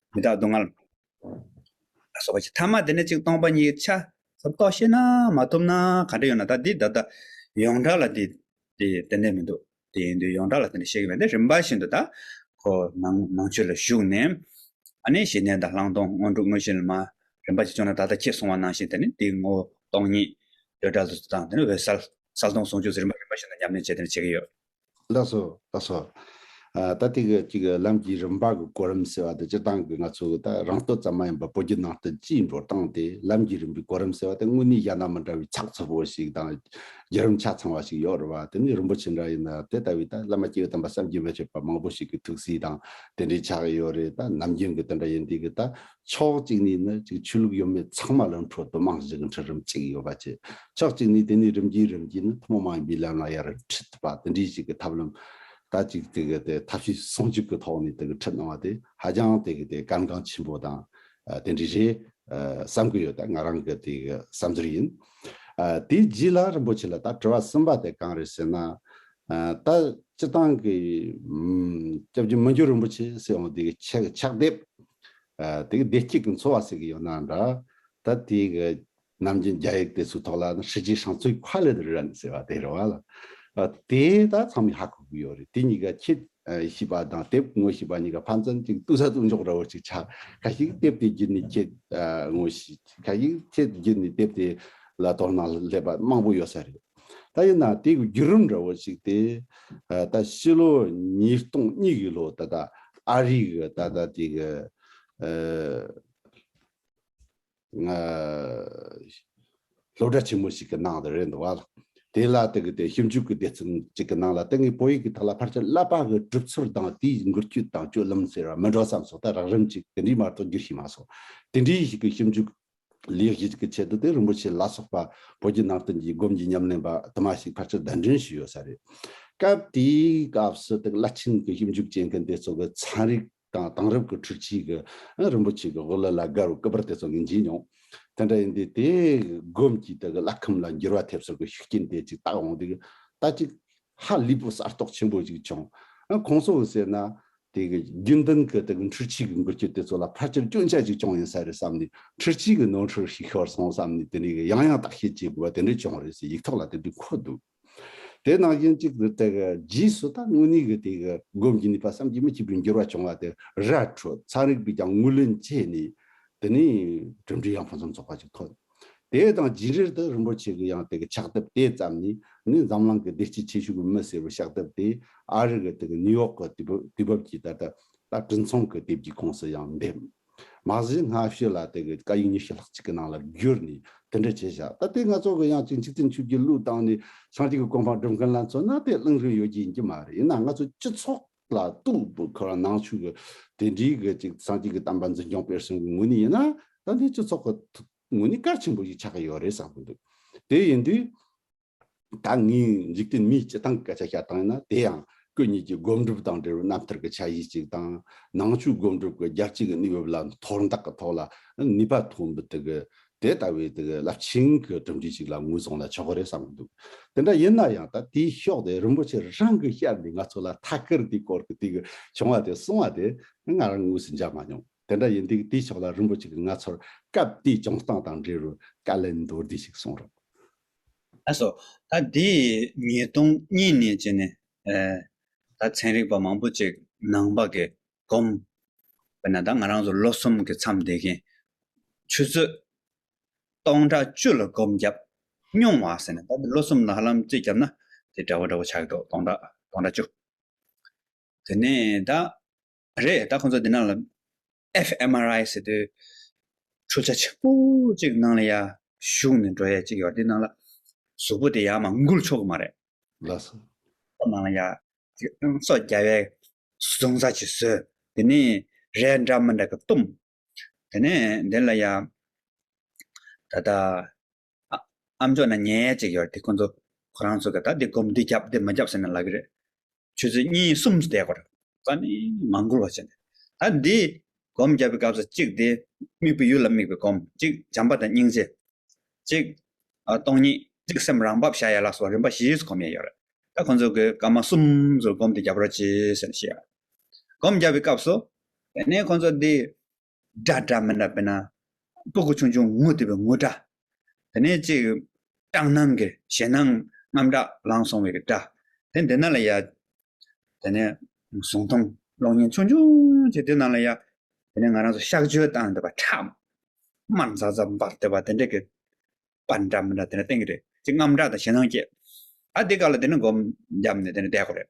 མི་རྟག་སྡུག་བསྔལ། ལ་སོགས་པ་ཅི་ཐ་མ་དེ་ནས་ཅིག་སྟོང་པ་ཉིད་ཆ། ཟབ་རྟོགས་ཤེས་ན་མ་ཐུབ་ན་ག་འདྲ་ཡོད་ན་ད་འདི་ད་ལྟ་ཡོངས་གྲགས་ལ་དེ་དེ་འདྲ་མི་འདུག་དེ་ཡིན་དུས་ཡོངས་གྲགས་ལ་དེ་འདྲ་བཤད་གི་མེད་དེ་རིམ་པ་བཞིན་དུ་ད་ཁོ་ནང་ནང་ཆོས་ལ་ཞུགས་ནས་ཨ་ནི་གཞི་གནས་དང་བླང་དོར་དངོས་གྲུབ་དངོས་གཞི་ལ་མ་རིམ་པ་ཅིག་བྱུང་ན་ད་ལྟ་ཁྱེད་གསུང་བ་ནང་བཞིན་དེ་ནི་དེ་ངོ་སྟོང་ཉིད་འདོད་གྲལ་དུ་དང་དེ་ནི་འོད་གསལ་གསལ་སྟོང་ཟུང་འཇུག་ཟེར་རིམ་པ་རིམ་པ་བཞིན་དུ་ཉམས་ལེན་བྱེད་དེ་འདྲ་བྱེད་ཀྱི་ཡོད། ལགས་སོ། ལགས་སོ། ད་ཐེངས་ཀྱི་གཅིག་ལམ་གྱི་རིམ་པ་གི་གོ་རིམ་ཟེར་བ་དེ་སྤྱིར་བཏང་གི་ང་ཚོ་གི་ད་རང་ལྟོ་ཙམ་མ་ཡིན་པར་བོད་བརྒྱུད་ནང་བསྟན་སྤྱིའི་འགྲོ་སྟངས་དེ་ལམ་གྱི་རིམ་པའི་གོ་རིམ་ཟེར་བ་དེ་དངོས་གནས་གཞན་དང་མི་འདྲ་བའི་ཚགས་ཚུད་པོ་ཞིག་དང་བརྒྱུད་རིམ་ཆ་ཚང་བ་ཞིག་ཡོད་རེད་བ་དེ་ནི་རིན་པོ་ཆེ་འདྲ་ཡིན་ན་དེ་ལྟ་བུའི་ད་བླ་མ་སྐྱེ་བོའི་དམ་པ་བསམ་གྱིས་མི་ཁྱབ་པ་མང་པོ་ཞིག་གི་ཐུགས་སྲས་དང་དེ་འདྲའི་ཆགས་ཡོད་རེད་ད་ནམ་རྒྱུན་གྱི་དེ་འདྲ་ཡིན་དུས་ཀྱི་ད་ཕྱོགས་གཅིག་ནས་ནི་ཅིག་ཆོས་ལུགས་ཡོད་མེད་ཚང་མ་ལ་འཕྲོ་དུ་མང་ཞིག་གི་འཕྲོ་རིམ་ཅིག་ཡོད་པ་བཅས་ཕྱོགས་གཅིག་ནས་དེ་ནས་རིམ་གྱིས་རིམ་གྱིས་ནི་ཐུན་མོང་མ་ཡིན་པའི་ལམ་ལ་ཡར་འཁྲིད་ཐུབ་པ་དེ་འདྲའི་ཞིག་གི་ཐབས་ལམ་ད་ཅིག་དེ་གི་དེ་ཐབས་ཤེས་ཟུང་འཇུག་གི་ཐོག་ནས་དེ་གི་འཁྲིད་གནང་བ་དེ་ཧ་ཅང་དེ་གི་དེ་གལ་འགངས་ཆེན་པོ་དང་དེ་འདྲའི་རེད་བསམ་གི་ཡོད་ང་རང་གི་དེ་གི་བསམ་ཚུལ་ཡིན། དེའི་རྗེས་ལ་རིན་པོ་ཆེ་ལ་ད་དྲི་བ་གསུམ་པ་དེ་གང་རེད་ཟེར་ན། ད་སྤྱི་བཏང་གི་སྐྱབས་རྗེ་མི་འགྱུར་རིན་པོ་ཆེ་སྲིད་དབང་དེ་གི་ཆེད་ཀྱི་ཕྱག་དེབ། དེ་གི་བདེ་སྐྱིད་ཀྱི་འཚོ་བ་ཟེར་གི་ཡོད་ནའང་འདྲ། ད་དེ་གི་ནམ་རྒྱུན་རྒྱ་ཡིག་དེ་ཚོའི་ཐོག་ལ་ཧྲི་ཅིན་ཧྲན་ཚོའི་ཁ་ལེ་དུ་རན་ཟེར་བ་དེ་རེད་བ་ལ། དེ་ད་ཚང་མས་ཧ་གོ་གི་ཡོད་རེད་དེ་གཉིས་ཀ་ཁྱེད་ཤེས་པ་དང་དེབ་དངོས་ཤེས་པ་གཉིས་ཀ་ཕན་ཚུན་གཅིག་ལྟོས་ས་ལྟོས་འཇོག་ར་བོ་ཅིག་ཆགས་ཁ་ཞིག་དེབ་དེ་བརྒྱུད་ནས་ཁྱེད་དངོས་ཤེས་ཁ་ཞིག་ཁྱེད་བརྒྱུད་ནས་དེབ་དེ་ལ་དོ་སྣང་སླེབས་པ་མང་པོ་ཡོད་ས་རེད། ད་ཡིན་ན་དེ་བརྒྱུད་རིམ་འདྲ་བོ་ཞིག་སྟེ། ད་ཕྱི་ལོ་ཉིས་སྟོང་གཉིས་ཀྱི་ལོ་ད་ལྟ་ཨ་རི་གི་ད་ལྟ་དེ་གི་སློབ་གྲྭ་ཆེན་མོ་ཞིག་གི་ནང་དུ་རེད་འདུག་བ། དེ་ལ་དེ་གི་དེ་ཞིབ་འཇུག་གི་སྡེ་ཚན་ཅིག་གི་ནང་ལ་དེ་སྔའི་བོད་ཡིག་གི་ཐོག་ལ་ཕར་ཆེར་བསླབ་པ་གི་གྲུབ་ཚུལ་དང་དེའི་འགུལ་སྐྱོད་དང་སྤྱོད་ལམ་ཟེར་བ་མི་འགྲོ་བསམ་སོང་ད་རགས་རིམ་ཅིག་དེ་འདྲའི་མ་གཏོགས་འགྱུར་ཤེས་མ་སོང། དེ་འདྲའི་ཞིག་གི་ཞིབ་འཇུག་ལེགས་བཞེས་ཀྱི་ཆེད་དུ་དེ་རིན་པོ་ཆེ་ལ་སོགས་པ་བོད་བརྒྱུད་ནང་བསྟན་གྱི་སྒོམ་གྱི་ཉམས་ལེན་པ་དུ་མ་ཞིག་ཕར་ཆེར་བདམས་ཐོན་བྱས་ཡོད་ས་རེད། སྐབས་དེའི་སྐབས་སུ་དེ་བླ་ཆེན་གྱི་ཞིབ་འཇུག་བྱེད་མཁན་དེ་ཚོ་གི་ཚན་རིག་དང་དེང་རབས་ཀྱི་འཕྲུལ་ཆས་ཀྱི་རིན་པོ་ཆེ་གི་དབུ་བླ་ལ་དགའ་བའི་སྐུ་པར་དེ་ཚོ་ངས་མཇལ་མྱོང། དེ་འདྲ་ཡིན་དུས་དེའི་སྒོམ་གྱི་དེ་གི་བླ་ཁམས་ལ་འགྱུར་བ་ཐེབས་སོགས་ཀྱི་ཤུགས་རྐྱེན་དེ་ཅིག་བཏགས་འོང་དུས་ད་ཅིག་ཧ་ལས་པོ་གསར་གཏོགས་ཆེན་པོ་ཞིག་བྱུང། གོང་ས་འོག་ཟེར་ན། དེ་གི་རྒྱུན་ལྡན་གི་དེ་གི་འཕྲུལ་ཆས་ཀྱི་འགུལ་སྐྱོད་དེ་ཚོ་ལ་ཕལ་ཆེར་སྐྱོན་ཆ་ཞིག་བྱུང་ཡིན་ས་རེད་བསམ་ནས་འཕྲུལ་ཆས་ཀྱི་ནོར་འཁྲུལ་ཞིག་ཤོར་སོང་བསམ་ནས་དེ་འདྲའི་གི་ཡང་ཡང་བརྟག་དཔྱད་བྱེད་དགོས་པ་དེ་འདྲ་བྱུང་རེད་ཟེར་ཡིག་ཐོག་ལ་དེ་འདྲའི་འཁོད་འདུག་དེ་ནང་བཞིན་གཅིག་ཏུ་དེ་གི་རྗེས་སུ་ད་དངོས་གནས་གི་དེ་གི་སྒོམ་གྱི་ནུས་པ་བསམ་གྱིས་མི་ཁྱབ་པའི་འགྱུར་བ་བྱུང་བ་དེ་ར་འཕྲོད་ཚན་རིག་པས་ཀྱང་ངོས་ལེན་བྱས་ནས་དེ་ནས་གྲུབ་འབྲས་ཡང་ཕུན་སུམ་ཚོགས་པ་ཞིག་ཐོན། དེའི་དང་རྒྱུད་འགྲེལ་དུ་རིན་པོ་ཆེ་གི་ཡང་ཏིག་གི་ཕྱག་དེབ་དེ་ཙམ་ནི་ནི་འཛམ་གླང་གི་བདེ་སྐྱིད་ཆེ་ཤོས་ཀྱི་མི་སེར་བའི་ཕྱག་དེབ་དེ་ཨ་རི་གི་ཏིག་གི་ནིའུ་ཡོག་གི་དུས་བབ་ཀྱི་ད་ལྟ་ད་བྲིན་ཚོང་གི་དེབ་ཀྱི་ཁོངས་སུ་ཡང་འདེམས། མ་གཞི་སྔ་ཕྱི་ལ་ཏིག་གི་བཀའ་ཡིག་ཉི་ཤུ་ལྷག་ཅིག་གི་ནང་ལ་བསྒྱུར་ནས་དེ་འདྲ་བྱས་བཞག་ད་ལྟའི་ང་ཚོ་གི་ཡང་ཅིག་འཇིག་རྟེན་ཆོས་ཀྱི་གླུ་བཏང་ནས་ཤངས་ཅིག་གི་གོ་འཕང་སྒྲུབ་མཁན་ལ་མཚོན་ན་དེ་བླང་རིན་ཡོད་ཀྱི་ཡིན་གྱི་མ་རེད་ཡིན་ན་ང་ཚོ་སྤྱི་ཚོགས། ལ་གཏུགས་པའི་ཁུ་རང་ནང་ཆོས་ཀྱི་དེ་འདྲིའི་གི་ཅིག་སངས་རྒྱས་ཀྱི་གཏམ་པ་འཛིན་སྐྱོང་སྤེལ་གསུང་གི་ངོས་ནས་ཡིན་ན་ད་འདི་སྤྱི་ཚོགས་ཀྱི་ངོས་ནས་གལ་ཆེན་པོ་ཞིག་ཆགས་ཀྱི་ཡོད་རེད་བསམ་གྱི་འདུག་དེ་ཡིན་དུས། ད་ངས་འཇིག་རྟེན་མིའི་སྤྱི་སྟངས་ཀྱི་སྐད་ཆ་བཤད་སྟངས་ཡིན་ན་དེ་ཡང་སྐུ་ཉིད་ཀྱི་སྒོམ་སྒྲུབ་དང་འབྲེལ་བའི་རྣམ་ཐར་གྱི་ཆ་ཤས་ཅིག་དང། ནང་ཆོས་སྒོམ་སྒྲུབ་ཀྱི་རྒྱལ་སྤྱིའི་གི་གནས་བབ་ལ་མཐོར་འདེགས་ཀྱི་ཐོག་ལ་ནུས་པ་ཐོན་པའི་དེ་གི་དེ་ལྟ་བུའི་རླབས་ཆེན་གྱི་གྲུབ་འབྲས་ཤིག་ལ་ངོས་བཟུང་ན་ཆོག་གི་རེད་བསམ་གྱི་འདུག་དེ་འདྲ་ཡིན་ན་ཡང་ད་དེའི་ཤོག་དེ་རིན་པོ་ཆེ་རང་གི་ཤར་ནས་ང་ཚོ་ལ་ཐ་སྐར་དེའི་སྐོར་གྱི་དེ་གི་བྱུང་བ་དེ་གསུང་བ་དེ་ང་རང་ངོས་སུ་འཇགས་མ་མྱོང། དེ་འདྲ་ཡིན་དུས་དེའི་ཕྱོགས་ལ་རིན་པོ་ཆེ་གིས་ང་ཚོར་སྐབས་དེའི་བྱུང་སྟངས་དང་འབྲེལ་བའི་བཀའ་ལན་མདོར་བསྡུས་ཤིག་གསུངས་རོགས། ཨ་སོ། ད་དེ་ཉིས་སྟོང་གཉིས་ནས་བྱས་ནས། ད་ཚན་རིག་པ་མང་པོ་ཅིག་ནང་པ་གི་བསྒོམ། དཔེར་ན་ད་ང་རང་ཚོ་ལོ་གསུམ་གྱི་མཚམས་འདས་མཁན། ཆུ་ཚོད་སྟོང་ཕྲག་བཅུ་ལ་བསྒོམ་བརྒྱབ་སྙུང་བ་ཟེར་ན་ད་ལོ་གསུམ་ལ་ཧ་ལམ་རྩིས་བརྒྱབ་ན་དེ་འདྲ་བོ་འདྲ་བོ་ཆགས་འགྲོ་སྟོང་ཕྲག་སྟོང་ཕྲག་བཅུ། དེ་ནས་ད། རེད་ད་ཁོང་ཚོ་འདི་ན་ལ FMRI ཟེར་དུས། འཕྲུལ་ཆ་ཆེན་པོ་གཅིག་ནང་ལ་ཡར་ཞུགས་ནས་འགྲོ་ཡས་གཅིག་ཡོད་དེ་ནང་ལ། གཟུགས་པོ་དེ་ཡར་མ་འགུལ་ཆོག་གི་མ་རེད། ལ་སོགས། ཁོ་ནང་ཡ། སོགས་རྒྱ་བའི་གཟུང་ས་ཆུད་ཟོས། དེ་ནས་རས་འདྲ་མི་འདྲ་གི་གཏུམ། དེ་ནས་དེ་ལ་ཡ། ད་ལྟ། ཨ་མཆོག་ན་ཉལ་ཅིག་ཡོད་དེ་ཁོ་ཚོ། ཁོ་རང་ཚོ་གི་ད་འདི་སྒོམ་འདི་རྒྱབ་འདི་མི་རྒྱབ་ཟེར་ན་ལག་གི་རེད། ཆོས་ཚུལ་གཉིས་གསུམ་བཟླས་དགོས། བཀའ་ནི་མ་འགུལ་བར་བྱ། ད་འདི། སྒོམ་བརྒྱབ་པའི་སྐབས་སུ་གཅིག་དེ། དམིགས་པའི་ཡུལ་ལ་དམིགས་པའི་སྒོམ་གཅིག་བྱམས་པ་དང་སྙིང་རྗེ། གཅིག། སྟོང་ཉིད་གཅིག་སེམས་རང་བབས་བྱ་ཡ་ལགས་སོགས་རིམ་པ་བཞི་སུ་གོམས་ཡས་ཡོད་རེད། ད་ཁོང་ཚོ་གི་བཀའ་མ་གསུམ་སུ་སྒོམ་དེ་བརྒྱབ་རོགས་གྱིས་ཟེར་ནས་བཤད་ཡོད། སྒོམ་བརྒྱབ་པའི་སྐབས་སུ། དེ་ནས་ཁོང་ཚོ་འདི། སྒྲ་སྒྲ་མི་འདྲ་བས་ན། སྤུ་གུ་ཆུང་ཆུང་ངུ་དེ་བས་ངུ་སྒྲ། དེ་ནས་གཅིག། སྐྲག་སྣང་གི་ཞེ་སྣང་རྔམ་སྒྲ་ལངས་སོང་བའི་སྒྲ། དེ་འདི་ན་ལ་ཡ། དེ་ནས། གཟུང་སྟོང་གློག་བརྙན་ཆུང་ཆུང་ཅིག་དེ་ན་ལ་ཡ། དེ་ནས་ང་རང་ཚོ་གཤགས་བཅོས་བཏང་འདི་བ་ཁྲག། དམར་འཛག་འཛག་འབར་དེ་བ་དེ་འདྲ་གི། པར་འདྲ་མི་འདྲ་དེ་ནས་སྟེང་གི་རེད། ཅིག་རྔམ་སྒྲ་དང་ཞེ་སྣང་སྐྱེས། ཨ་དེ་ག་ལ་དེ་ནས་སྒོམ། རྒྱབ་ནས་དེ་ནས་བསྡད་གོ་རེད།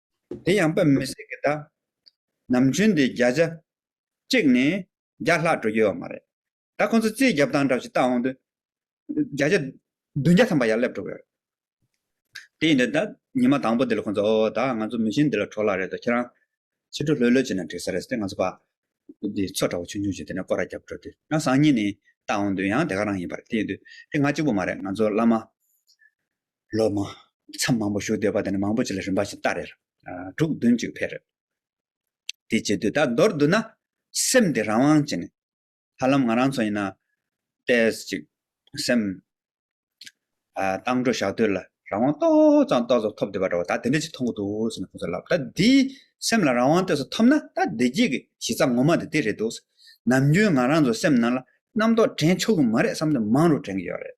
དེ་ཡང་པདྨ་མི་ཟེར་གི་གདའ། ནམ་རྒྱུན་དེ་བརྒྱ་ཆ་གཅིག་ནས་བརྒྱ་ལྷག་འགྲོ་རྒྱུ་ཡོད་མ་རེད། ད་ཁོང་ཚོ་རྩིས་རྒྱབ་སྟངས་འདྲ་ཞིག་བལྟ་འོང་དུས། བརྒྱ་ཆ་བདུན་བརྒྱ་ཐམ་པ་ཡར་སླེབས་འགྲོ་གི་རེད། དེ་ཡིན་དུས་ད་ཉི་མ་དང་པོ་འདི་ལ་ཁོང་ཚོ་ཨོ་ད་ང་ཚོ་མི་གཞན་འདི་ལ་གྲོ་ལ་རེད་དོ་ཁྱེད་རང། ཕྱི་དྲོ་ལྷོད་ལྷོད་བྱས་ན་འགྲིག་ས་རེད་ཟེར་ཏེ་ང་ཚོ་པདྨ་འདི་མཚོ་འདྲ་བོ་ཆུང་ཆུང་ཞིག་དེ་ནས་སྐོར་ར་བརྒྱབ་འགྲོ་དུས་ཡང་བཟང་ཉིད་ནས་བལྟ་འོང་དུས་ཡང་དེ་ག་རང་ཡིན་པ་རེད་དེ་ཡིན་དུས་དེ་ང་གཅིག་པུ་མ་རེད་ང་ཚོ་བླ་མ། ལོ་མང། མཚམས་མང་པོ་བཞུགས་སྡོད་པ་དེ་ནི་མང་པོ་ཅིག་ལ་རིམ་པ་བཞིན་སྟ་རེར། དྲུག་བདུན་ཅིག་འཕེལ། དེ་བྱེད་དུས་ད་མདོར་བསྡུ་ན། སེམས་དེ་རང་དབང་ཅན། ཧ་ལམ་ང་རང་ཚོ་ཡིན་ན། ལྟས་ཅིག། སེམས། བཏང་འགྲོ་བཞག་དུས་ལ་རང་དབང་ཏོག་ཙམ་ཏོག་ཙམ་ཐོབ་འདོད་པ་འདྲ་བོ་ད་དེ་འདྲ་ཅིག་མཐོང་གི་འདུག་ཟེར་ནས་ཁོང་ཚོས་ལབ། ད་འདིས་སེམས་ལ་རང་དབང་སྟོས་སུ་ཐོབ་ན་ད་བདེ་སྐྱིད་ཀྱི་གཞི་རྩ་ངོ་མ་དེ་དེ་རེད་འདུག། ནམ་རྒྱུན་ང་རང་ཚོའི་སེམས་ནང་ལ་རྣམ་རྟོག་དྲན་ཆོག་གི་མ་རེད་བསམ་དོན་མང་རུ་དྲན་གྱི་ཡོད་རེད།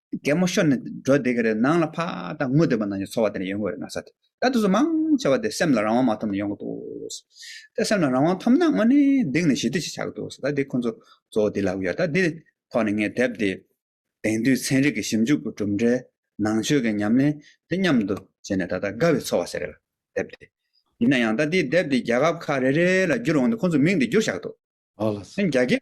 གད་མོ་ཤོར་ནས་འགྲོ་བསྡད་ཀྱི་རེད་ནང་ལ་ཕ་དང་ངོ་དེ་པ་ནང་གི་འཚོ་བ་དེ་ནས་ཡོང་གི་རེད་ན་ས་དེ་ད་དུས་ཚོད་མང་ཆེ་བ་དེ་སེམས་ལ་རང་དབང་མ་ཐོབ་ནས་ཡོང་གི་འདུག་དེ་སེམས་ལ་རང་དབང་ཐོབ་ན་དངོས་གནས་སྡིག་ནས་ཞི་བདེ་ཞིག་ཆགས་ཀྱི་འདུག་ད་དེ་ཁོ་ཚོ་གཙོ་བོ་དེ་ལབ་ཀྱི་ཡོད་ད་དེའི་ཐོག་ནས་ངས་དེབ་དེ་དེང་དུས་ཚན་རིག་གི་ཞིབ་འཇུག་གི་གྲུབ་འབྲས་ནང་ཆོས་ཀྱི་ཉམས་ལེན་དེ་མཉམ་དུ་བྱས་ནས་ད་ལྟ་དགའ་བའི་འཚོ་བ་ཟེར་གྱི་དེབ་དེ་ཡིན་ན་ཡང་ད་དེའི་དེབ་དེ་རྒྱལ་ཁབ་ཁག་རེ་རེ་ལ་བསྒྱུར་འོང་དུས་ཁོ་ཚོས་མིང་དེ་བསྒྱུར་བཞག་འདུག་རྒྱ་སྐད།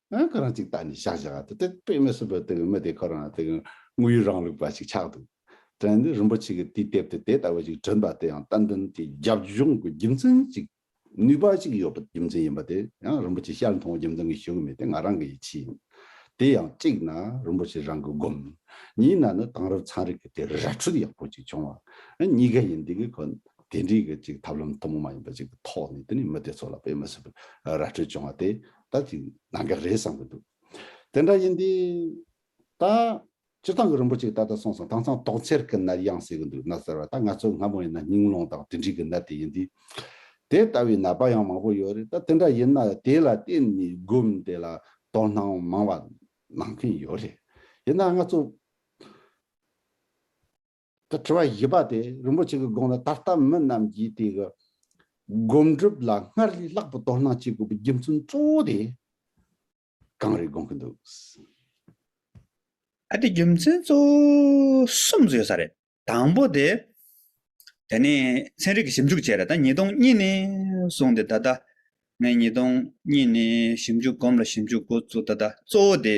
ཨ་ཁོ་རང་ཅིག་ད་ནི་ཤག་ཤག་ད་དེ་དཔེ་མི་སྲིད་པ་དེ་གི་མི་དེ་ཁོ་རང་ལ་དེ་གི་དངོས་ཡོད་རང་ལུགས་པ་ཞིག་ཆགས་འདུག་དྲན་ནས་རིན་པོ་ཆེ་གི་དུས་དེབ་དེ་དེ་ལྟ་བུ་ཞིག་བྲིན་པ་དེ་ཡང་རྟ་མགྲིན་གྱི་རྒྱབ་ལྗོངས་ཀྱི་རྒྱུ་མཚན་གཅིག་ནུས་པ་ཞིག་ཡོད་པའི་རྒྱུ་མཚན་ཡིན་པ་དེ་ཡང་རིན་པོ་ཆེ་ཤར་མཐོང་བའི་རྒྱུ་མཚན་གྱི་ཞུ་གི་མེད་དེ་ང་རང་གི་ཡིད་ཆེས་ཡིན་དེ་ཡང་གཅིག་ན་རིན་པོ་ཆེ་རང་གི་སྒོམ་གཉིས་ན་ནི་དེང་རབས་ཚན་རིག་གི་དེ་ར་འཕྲུལ་ཡག་པོ་ཅིག་བྱུང་བ་ཨ་གཉིས་ཀ་ཡིན་དེ་གི་ཁོ་དེ་འདྲའི་གི་ཅིག་ཐབས་ལམ་ཐུན་མོང་མ་ཡིན་པ་ཅིག་གི་ཐོག་ནས་དེ་ནི་མི་དེ་ཚོ་ལ་དཔེ་མི་སྲིད་པའི་ར་འཕྲུལ་བྱུང་བ་དེ་ད་དེ་ནང་གི་རེད་བསམ་གྱི་འདུག་དེ་འདྲ་ཡིན་དུས། ད། སྤྱིར་བཏང་གི་རིན་པོ་ཆེ་ད་ལྟ་སོང་སོང་དྭངས་གཙང་ཏོག་མཚེར་གྱི་ནར་དབྱངས་གསལ་གྱི་འདུག་ན་ཟེར་བ་ད་ང་ཚོ་སྔ་མོ་ཡིན་ན་སྙིང་རླུང་དང་དྲི་འབྲིང་གི་ནར་དེ་ཡིན་དུས། དེ་ལྟ་བུའི་ནར་པ་ཡང་མང་པོ་ཡོད་རེད་ད་དེ་འདྲ་ཡིན་ན་དེ་ལ་བརྟེན་ནས་སྒོམ་དེ་ལ་དོ་སྣང་མང་བ་གནང་གིན་ཡོད་རེད་ཡིན་ན་ང་ཚོ། དེ་དྲི་བ་བཞི་པ་དེ་རིན་པོ་ཆེ་གི་དགོངས་ལ་ད་ལྟ་མི་རྣམས་ཀྱིས་དེ་གི་སྒོམ་སྒྲུབ་ལ་སྔར་ལས་ལྷག་པའི་དོ་སྣང་བྱེད་དགོས་པའི་རྒྱུ་མཚན་གཙོ་བོ་དེ་གང་རེད་དགོངས་ཀྱི་འདུག། ཨ་དེ་རྒྱུ་མཚན་གཙོ་བོ་གསུམ་ཟོས་ས་རེད། དང་པོ་དེ། དེ་ནས་ཚན་རིག་གི་ཞིབ་འཇུག་བྱས་ར་ད་ཉིས་སྟོང་གཉིས་ནས་བཟུང་སྟེ་ད་ལྟ། ངས་ཉིས་སྟོང་གཉིས་ནས་ཞིབ་འཇུག་སྒོམ་ལ་ཞིབ་འཇུག་འགོ་བཙུགས་ད་ལྟ་གཙོ་བོ་དེ།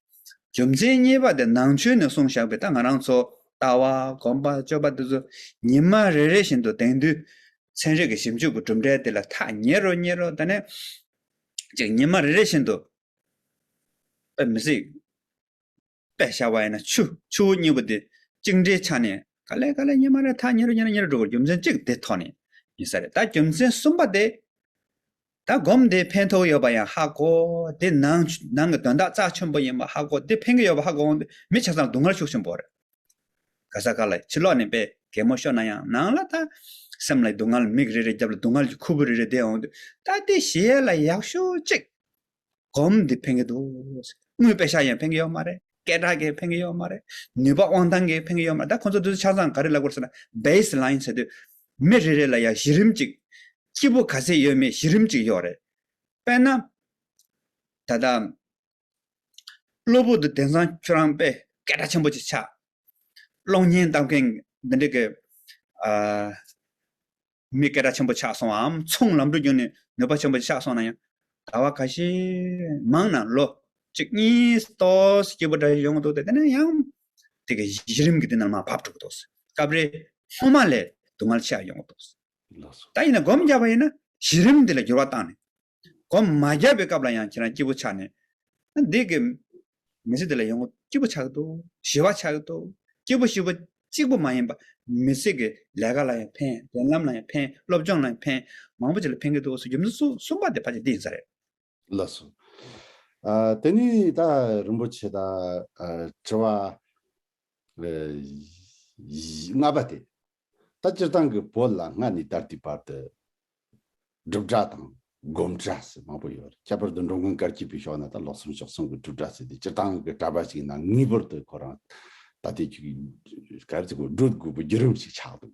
རྒྱུ་མཚན་གཉིས་པ་དེ་ནང་ཆོས་ནས་གསུང་བཞག་པའི་ད་ང་རང་ཚོ་ལྟ་བ་གོམས་པ་སྤྱོད་པ་དེ་ཚོ་ཉིན་མ་རེ་རེ་བཞིན་དུ་དེང་དུས་ཚན་རིག་གི་ཞིབ་འཇུག་གི་གྲུབ་འབྲས་དེ་ལ་ཐག་ཉེ་རུ་ཉེ་རུ་ད་ནས་ཅིག་ཉིན་མ་རེ་རེ་བཞིན་དུ་དཔེ་མི་སྲིད། དཔེ་བཞག་པ་ཡིན་ན་ཆུ་ཆུ་བོ་གཉིས་པོ་དེ་གཅིག་འདྲིལ་ཆགས་ནས་ག་ལེ་ག་ལེ་ཉིན་མ་རེ་ཐག་ཉེ་རུ་ཉེ་རུ་ཉེ་རུ་འགྲོ་དགོས་རྒྱུ་མཚན་གཅིག་དེ་ཐོག་ནས་ཡིན་ས་རེད་ད་རྒྱུ་མཚན་གསུམ་པ་དེ་ད་སྒོམ་དེ་ཕན་ཐོགས་ཡོད་པ་ཡང་ཧ་གོ། དེ་ནང་ནང་གི་དོན་དག་རྩ་ཆེན་པོ་ཡིན་པ་ཧ་གོ། དེ་ཕན་གི་ཡོད་པ་ཧ་གོ་འོང་དུས་མི་ཆ་ཚང་སྡུག་བསྔལ་ཤུགས་ཆེན་པོ་རེད། ག་ས་ག་ལ་ཡི་ཕྱི་ལོགས་ནས་པའི་གད་མོ་ཤོར་ན་ཡང་ནང་ལ་ད་སེམས་ལ་ཡི་སྡུག་བསྔལ་མིག་རེ་རེ་བརྒྱབ་ལ་སྡུག་བསྔལ་གྱི་ཁུར་བུ་རེ་རེ་འདེད་འོང་དུས་ད་དེ་ཞི་ཡལ་ལ་ཡག་ཤོས་གཅིག། སྒོམ་འདི་ཕན་གི་འདུག། དངུལ་དཔེ་ཤག་ཡང་ཕན་གི་ཡོད་མ་རེད། སྐད་གྲགས་གི་ཕན་གི་ཡོད་མ་རེད། ནུས་པ་དབང་ཐང་གི་ཕན་གི་ཡོད་མ་རེད། ད་ཁོང་ཚོ་དུས་ཚོད་ཆ་ཚང་ག་རེ་ལ་བསྐུར་ཟེར་ན། Baseline། ཟེར་དུས་མི་རེ་རེ་ལ་ཡང་གཞི་རིམ་གཅིག། སྐྱིད་པོ་ག་ཚད་ཡོད་མེད་གཞི་རིམ་གཅིག་གཡོག་རེད། དཔེར་ན། ད་ལྟ། གློ་བུར་དུ་དེང་སང་ཁྱོད་རང་དཔེ་སྐད་གྲགས་ཆེན་པོ་ཅིག་ཆགས། གློག་བརྙན་བལྟ་མཁན་འདི་འདྲ་གི། མི་སྐད་གྲགས་ཆེན་པོ་ཆགས་སོང་བའམ་ཚོང་ལམ་འགྲོ་རྒྱུག་ནས་ནུས་པ་ཆེན་པོ་ཅིག་ཆགས་སོང་ན་ཡང། ཟླ་བ་ག་ཤེད་མང་ན་ལོ་གཅིག་གཉིས་སྟོབས་སྐྱིད་པོ་འདྲ་ཞིག་ཡོང་གི་འདུག་སྟེ་དེ་ནས་ཡང། དེ་གི་གཞི་རིམ་གྱི་དེ་རྣམས་མ་བབས་འགྲོ་གི་འདུག། སྐབས་རེ་སྔོན་མ་ལས་སྡུག་བསྔལ་ཆེ་ར་ཡོང་གི་འདུག། ལགས་སོ། ད་ཡིན་ན་སྒོམ་བརྒྱབ་པ་ཡིན་ན་གཞི་རིམ་འདི་ལ་འགྱུར་བ་བཏང་ནས། སྒོམ་མ་བརྒྱབ་པའི་སྐབས་ལ་ཡང་ཁྱེད་རང་སྐྱིད་པོ་ཆགས་ནས། འདི་གི། མི་ཚེ་འདི་ལ་ཡོང་ངོ་སྐྱིད་པོ་ཆགས་འདུག་ཞི་བ་ཆགས་འདུག་སྐྱིད་པོ་ཞི་བོ་གཅིག་པོ་མ་ཡིན་པ། མི་ཚེ་གི་ལས་ཀ་ལ་ཡང་ཕན་འགྲན་ལམ་ལ་ཡང་ཕན་སློབ་སྦྱོང་ལ་ཡང་ཕན། མང་པོ་ཞིག་ལ་ཕན་གི་འདུག་ཟེར་རྒྱུ་མི་འདུག་གསུངས་པ་དེ་ཕ་ཆེ་འདི་ཡིན་ས་རེད། ལ་སོགས། དེ་ནས་ད་རིན་པོ་ཆེ་དང་དྲི་བ། ལྔ་པ་སྟེ། ད་སྤྱིར་བཏང་གི་བོད་ལ་སྔ་ནས་ད་ལྟའི་བར་དུ། སྒྲུབ་གྲྭ་དང་སྒོམ་གྲྭ་ཟེར་མང་པོ་ཡོད། ཁྱད་པར་དུ་འགྲོ་མགོན་སྐར་སྐྱིད་པའི་ཞོགས་ན་ད་ལོ་གསུམ་ཞོགས་གསུམ་གྱི་སྒྲུབ་གྲྭ་ཟེར་ཏེ་སྤྱིར་བཏང་གི་གྲྭ་པ་ཞིག་ཡིན་ན་ངེས་པར་དུ་ཁོ་རང་ད་ལྟའི་བར་དུ་སྒྲུབ་དགོས་པའི་བརྒྱུད་རིམ་ཞིག་ཆགས་འདུག།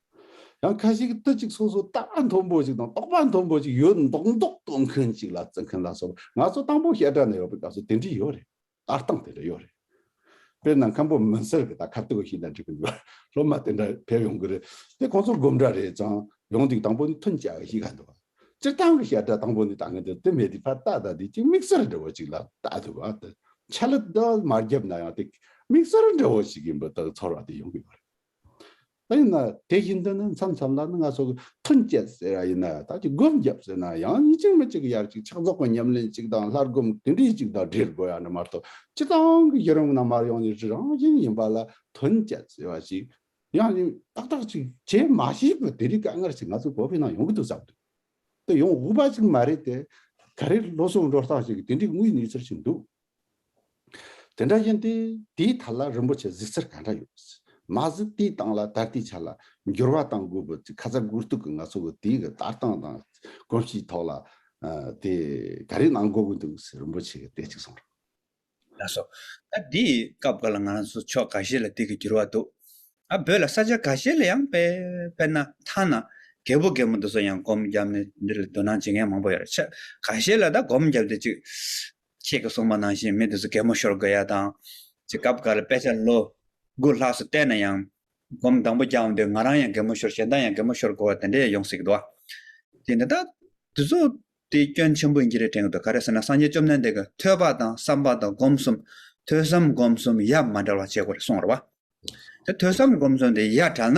ཡང་ཁ་ཞིག་གིས་ཏི་ཅིག་སོ་སོ་ལྟ་བ་མཐོན་པོ་ཞིག་དང་རྟོགས་པ་མཐོན་པོ་ཞིག་ཡོད་མདོག་མདོག་གཏོང་མཁན་ཅིག་ལ་བརྩི་མཁན་ལ་སོགས་པ་ང་ཚོ་དང་པོ་བཤད་གྲྭ་ནས་ཡོང་པའི་སྐབས་སུ་དེ་འདྲ་ཡོད་རེད། ལྟ་སྟངས་དེ་འདྲ་ཡོད་རེད། དཔེར་ན་མཁན་པོ་མུན་སེལ་གྱིས་ད་ཁ་ཏུག་ཞིག་ལ་འགྲིག་གི་འདུག་སློབ་མ་དེ་འདྲ་ཕེབས་ཡོང་གི་རེད་དེ་ཁོང་ཚོ་སྒོམ་གྲྭ་རེད་ཙང་ཡོང་དུས་དང་པོ་ནི་མཐུན་བྱ་བ་ཞིག་ག་འདུག་སྤྱིར་བཏང་གི་བཤད་གྲྭ་དང་པོ་ནི་ད་ངས་དེ་མེད་དུས་ཕར་ལྟ་ད་དེ་གཅིག་དམིགས་བསལ་འདྲ་བོ་ཅིག་ལ་ལྟ་ཐུབ་པ་དང་ཆ་ལ་དེ་དག་མ་བརྒྱབ་ན་ཡང་དེ་དམིགས་བསལ་འདྲ་བོ་ཞིག་ཡིན་པ་དག་ཚོར་བ་དེ་ཡོང་གི་ཡོད་རེད། ཡིན་ན་དེ་བཞིན་དུ་ནི་མཚམས་མཚམས་ལ་ནི་ང་སོགས་ཀྱིས་ཐུན་བསྐྱེད་ཟེར་ཡང་ཡིན་ན་བདག་གིས་སྒོམ་བརྒྱབ་ཟེར་ན་ཡང་ཡིན་གཅིག་མ་གཅིག་གི་ཡར་གཅིག་ཕྱག་རྫོགས་པ་ཉམས་ལེན་གཅིག་དང་ལྷར་སྒོམ་དེ་འདྲས་གཅིག་དང་འབྲེལ་དགོས་ཡ་ན་མ་གཏོགས་སྤྱི་བཏང་གི་བསྐྱེད་རིམ་རྣམས་མར་ཡོང་ནས་རི་རང་བཞིན་ཡིན་པ་ལ་ཐུན་བསྐྱེད་ཟེར་བ་ཞིག་ཡང་ཡིན་ཏག་ཏག་ཅིག་བྱས་མ་ཤེས་པར་དེ་རིགས་དཀའ་ངལ་ཞིག་ང་ཚོའི་གོ་ཕི་ནང་ཡོང་གི་འདུག་བསམ་དུས་དེ་ཡོང་འོས་པ་ཞིག་མ་རེད་དེ། ག་རེ་བློ་སེང་འགྲོ་སྟངས་ཞིག་གིས་དེ་འདྲའི་དངོས་གནས་ཚོར་བཞིན་འདུག། དེ་འདྲ་ཡིན་ཏེ། དེའི་མཐའ་ལ་རིན་པོ་ཆེ་གཟིགས་ཚུལ་གང་འདྲ་ཡོད། མ་གཟིགས་དེའི་སྟེང་ལ་ད་ལྟའི་ཆ་ལ་འགྱུར་བ་དང་དགོས་པའི་ཁ་ཚ་དགོས་གཏུགས་ཀྱི་ང་ཚོ་གི་དེའི་གི་ལྟ་སྟངས་དང་གོམས་གཤིས་ཐོག་ལ། དེ་ག་རེ་གནང་དགོས་ཀྱི་འདུག་ཟེར་རིན་པོ་ཆེ་གིས་བལྟས་ཅིག་གསུངས། ལགས་སོ། ད་དེའི་སྐབས་འགའ་ལ་ང་རང་ཚོ་ཕྱོགས་ག་ཤེད་ལ་དེ་གི་འགྱུར་བ་འདུག། ཨ་བོད་ལ་ས་ཆ་ག་ཤེད་ལ་ཡང་དཔེར་ན་ཐ་ན་རྒད་པོ་རྒད་མོ་འདི་ཚོ་ཡང་སྒོམ་རྒྱབ་ནས་འདི་ལ་དོ་སྣང་བྱེད་མཁན་མང་པོ་ཡོད་རེད་ཆ་ག་ཤེད་ལ་ད་སྒོམ་རྒྱབ་སྟེ་ཅིག་ཁྱེད་ཀྱི་སྲུང་མ་ནང་བཞིན་མི་དེ་ཚོ་གད་མོ་ཤོར་དགོས་ཡ་དང། ཅི་སྐབས་འགར་དཔེ་ཆ་ལོ་དགུ་ལྷག་སུ་བལྟས་ན་ཡང། སྒོམ་དང་པོ་རྒྱག་འདོད་ང་རང་ཡང་གད་མོ་ཤོར་གཞན་དག་ཡང་གད་མོ་ཤོར་དགོས་བ་དེ་འདྲས་ཡོང་སྲིད་དོ། དེ་འདི་དག་དེ་ཚོ་དེ་སྐྱོན་ཆེན་པོ་ཡིན་གྱི་རེད་དྲན་གྱི་འདུག་ག་རེ་ཟེར་ན་སངས་རྒྱས་བཅོམ་ལྡན་འདས་ཀྱི་ཐོས་པ་དང་བསམ་པ་དང་སྒོམ་གསུམ་ཐོས་བསམ་སྒོམ་གསུམ་ཡ་མ་འདྲ་བ་བྱེད་དགོས་རེད་གསུངས་རེད་བ། དེ་ཐོས་བསམ་སྒོམ་གསུམ་དེ་ཡ་དྲགས་ན་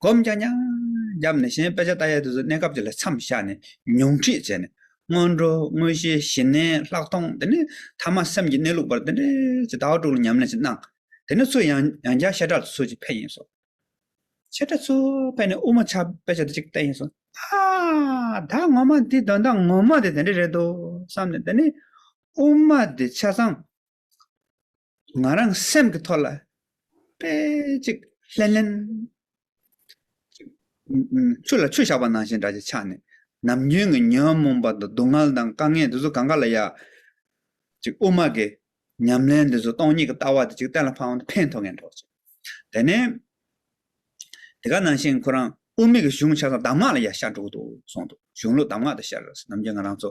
སྒོམ་རྒྱ་ཉམས་བརྒྱབ་ནས་གཞན་དཔེ་ཆ་ལྟ་ཡས་དུས་སུ་གནས་སྐབས་ཀྱི་ལས་མཚམས་བཞག་ནས་ཉུང་ཁྲིད་བྱས་ནས་སྔོན་འགྲོ་དངོས་གཞི་ཞི་གནས་ལྷག་མཐོང་དེ་ནས་ཐ་མ་སེམས་ཀྱི་གནས་ལུགས་བར་དེ་འདྲའི་ཇི་ལྟ་བ་དྲུག་ལ་ཉམས་ལེན་ཞིག་གནང། དེ་ནས་ཚུར་ཡང་ཡང་བསྐྱར་བཤད་གྲྭ་ལ་ཚུར་ཅིག་ཕེབས་ཡིན་སོང། བཤད་གྲྭ་ཚུར་ཕེབས་ནས་དབུ་མ་ཆགས་དཔེ་ཆ་དེ་ཅིག་བལྟས་ཡིན་སོང། ཨ། ད་ངོ་མ་འདིས་དོན་དག་ངོ་མ་དེ་དེ་འདྲ་རེད་འདུག་བསམ་ནས་དེ་ནས་དབུ་མ་དེ་ཆ་ཚང། ང་རང་སེམས་ཀྱི་ཐོག་ལ་དཔེ་ཅིག་ལྷེན་ལྷེན། ཆུ་ལ་ཆུ་བཞག་པ་ནང་བཞིན་འདྲ་ཅིག་ཆགས་ནས་ནམ་རྒྱུན་གྱི་ཉོན་མོངས་པ་དང་སྡུག་བསྔལ་དང་དཀའ་ངལ་འདི་ཚོ་གང་ག་ལ་ཡག། ཅིག་དབུ་མ་གི་ཉམས་ལེན་འདི་ཚོ་སྟོང་ཉིད་ཀྱི་ལྟ་བ་དེ་ཅིག་གཏན་ལ་ཕབ་ན་ཕན་ཐོགས་ངན་ཐོགས་ཅིག། དེ་ནས་དེ་ག་ནང་བཞིན་ཁོ་རང་དབུ་མེད་ཀྱི་གཞུང་ཆ་ཚང་གདམས་ངག་ལ་ཡར་ཤར་འགྲོ་གི་འདུག་གསུངས་འདུག་གཞུང་ལུགས་གདམས་ངག་དང་བཤད་རོགས་ཟེར་ནམ་རྒྱུན་ང་རང་ཚོ་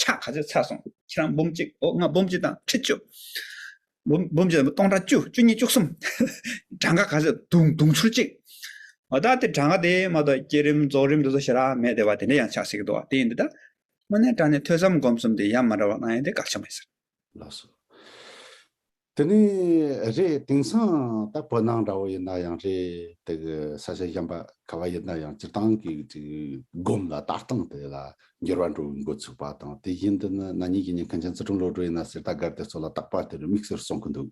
ཕྱག་ག་ཚོད་ཚར་སོང་ཁྱེད་རང་འབུམ་གཅིག་ཨོ་ང་འབུམ་གཅིག་དང་ཁྲི་བཅུ། འབུམ་འབུམ་གཅིག་དང་སྟོང་ཕྲག་བཅུ་བཅུ་གཉིས་བཅུ་གསུམ། གྲངས་ཀ་ག་ཚོད་དུང་དུང་ཕྱུར་གཅིག། མ་ད་དེ་གྲངས་ཀ་དེ་མ་གཏོགས་བསྐྱེད་རིམ་རྫོགས་རིམ་དེ་ཚོ་ཞེ་དྲག་མེད་དེ་བ་དེ་འདྲ་ཡང་ཆགས་སྲིད་ཀྱི་འདུག་བ་དེ་ཡིན་དུས་ད། དངོས་གནས་དྲ་ནས་ཐོས་བསམ་སྒོམ་གསུམ་དེ་ཡ་མ་འདྲ་བ་གནང་ཡོད་དེ་དགག་བྱ་མེད་ཟེར། ལགས་སོ། དེ་ནི་རེད་དེང་སང་ད་བོད་ནང་འདྲ་བོ་ཡིན་ན་ཡང་རེད་དེ་ས་ཆ་གཞན་པ་ག་བ་ཡིན་ན་ཡང་སྤྱིར་བཏང་གི་སྒོམ་ལ་ལྟ་སྟངས་དེ་ལ་འགྱུར་བ་འགྲོ་བའི་འགོ་ཚུགས་པ་དང་དེ་བཞིན་དུ་ནི་ན་ནིང་གི་ཉིན་མཁན་ཆེན་ཙི་ཀྲུང་བློ་གྲོས་ཡིན་ན་གསེར་རྟ་སྒར་དེ་ཚོ་ལ་བརྟག་པ་དེར་དམིགས་བསལ་གསུང་གི་འདུག་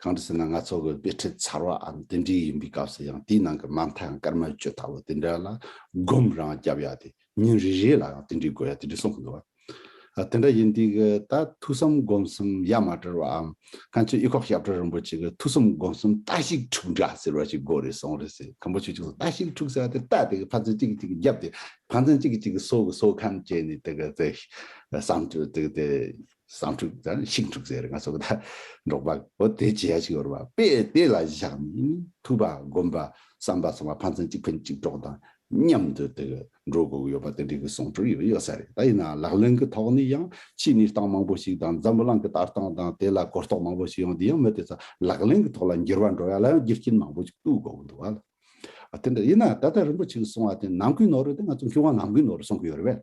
གང་དུ་ཟེར་ན་ང་ཚོ་གི་དཔེ་ཁྲིད་ཚར་བ་འམ་དེ་འདྲའི་ཡིན་པའི་སྐབས་སུ་ཡང་དེའི་ནང་གི་མ་མཐའ་ཡང་སྐར་མ་བཅུ་ལྟ་བུ་དེ་འདྲ་ལ་སྒོམ་རང་བརྒྱབ་ཡ་དེ་ཉིན་རེ་རེ་ལ་ཡང་དེ་འདྲའི་དགོས་ཡ་དེ་འདྲ་གསུང་གི་འདུག་བ། དེ་འདྲ་ཡིན་དུས་ཀྱི་ད་ཐུགས་བསམ་སྒོམ་གསུམ་ཡ་མ་བྲལ་བའམ་གངས་ཅན་དབྱི་ཁོག་ཞབས་བྲོ་རིན་པོ་ཆེ་གི་ཐུགས་བསམ་སྒོམ་གསུམ་རྟ་ཞིག་འཁྲུག་འདྲ་ཟེར་བ་ཞིག་དགོས་རེད་གསུང་རེད་ཟེར་གང་པོ་ཆོས་ཅིག་རྟ་ཞིག་འཁྲུག་ས་དེ་རྟ་དེ་གི་ཕ་ཚན་གཅིག་གིས་གཅིག་གི་རྒྱབ་དེ་ཕ་ཚན་གཅིག་གིས་གཅིག་གི་སོ་གི་སོ་ཁམས་བཅད་ནས་དེ་གི་དེ་བསམ་དུ་དེ་གི་དེ། བསང་ཕྲུག་དང་ཤིང་ཕྲུག་ཟེར་ང་སོགས་དང་འགྲོགས་པ་པོ་དེ་བྱས་ཤིག་ཡོད་པ་པས་དེ་ལ་བཞག་ནས་ཐུབ་པ་སྒོམ་པ་བསམ་པ་སོང་བ་ཕན་ཚུན་གཅིག་ཕན་གཅིག་གྲོགས་དང་མཉམ་དུ་དེ་གི་འགྲོ་དགོས་ཀྱི་ཡོད་པ་དེ་འདྲའི་གི་གསུང་ཕྲུག་ཡོད་ཡོད་ས་རེད་ད་ཡིན་ན་ལག་ལེན་གི་ཐོག་ནས་ཡང་ཕྱིས་གནས་སྟངས་མང་པོ་ཞིག་དང་འཛམ་བུ་གླིང་གི་ལྟ་སྟངས་དང་དེ་ལ་གོ་རྟོགས་མང་པོ་ཞིག་ཡོང་དེ་ཡང་མི་དེ་ཚོ་ལག་ལེན་གི་ཐོག་ལ་འགྱུར་བ་འགྲོ་ཡ་ལ་ཡང་རྒྱུ་རྐྱེན་མང་པོ་ཞིག་གཏུག་དགོས་ཀྱི་འདུག་བ་ལ་དེ་འདྲ་ཡིན་ན་ད་ལྟ་རིན་པོ་ཆེ་གི་གསུང་བ་དེ་ནང་ཁུལ་ནོར་རེད་དེ་ང་ཚོ་མཁས་དབང་ནང་ཁུལ་ནོར་གསུང་གི་ཡོད་རེད་བས།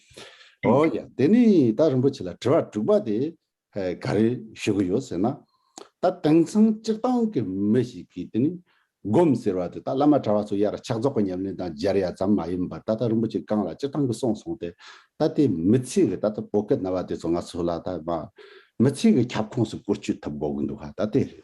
ཨོ་ཡ། དེ་ནས་ད་རིན་པོ་ཆེ་ལ་དྲི་བ་དྲུག་པ་དེ་ག་རེ་ཞུ་གི་ཡོད་ཟེར་ན། ད་དེང་སང་སྤྱིར་བཏང་གི་མི་ཞིག་གིས་དེ་ནི་སྒོམ་ཟེར་བ་དེ་ད་བླ་མ་གྲྭ་བ་ཚོ་ཡར་ཕྱག་རྫོགས་པ་ཉམས་ལེན་དང་སྦྱར་ཡ་ཙམ་མ་ཡིན་པར་ད་ད་རིན་པོ་ཆེ་གང་ལ་སྤྱིར་བཏང་གི་གསུངས་སོང་སྟེ། ད་དེ་མི་ཚེ་གི་ད་ལྟ་བོད་སྐད་རྣ་བ་དེ་ཚོ་ང་ཚོ་ལ་ད་མི་ཚེ་གི་ཁྱབ་ཁོངས་སུ་བཀོལ་སྤྱོད་ཐུབ་དགོས་ཀྱི་འདུག་ག་ད་དེ་རེད།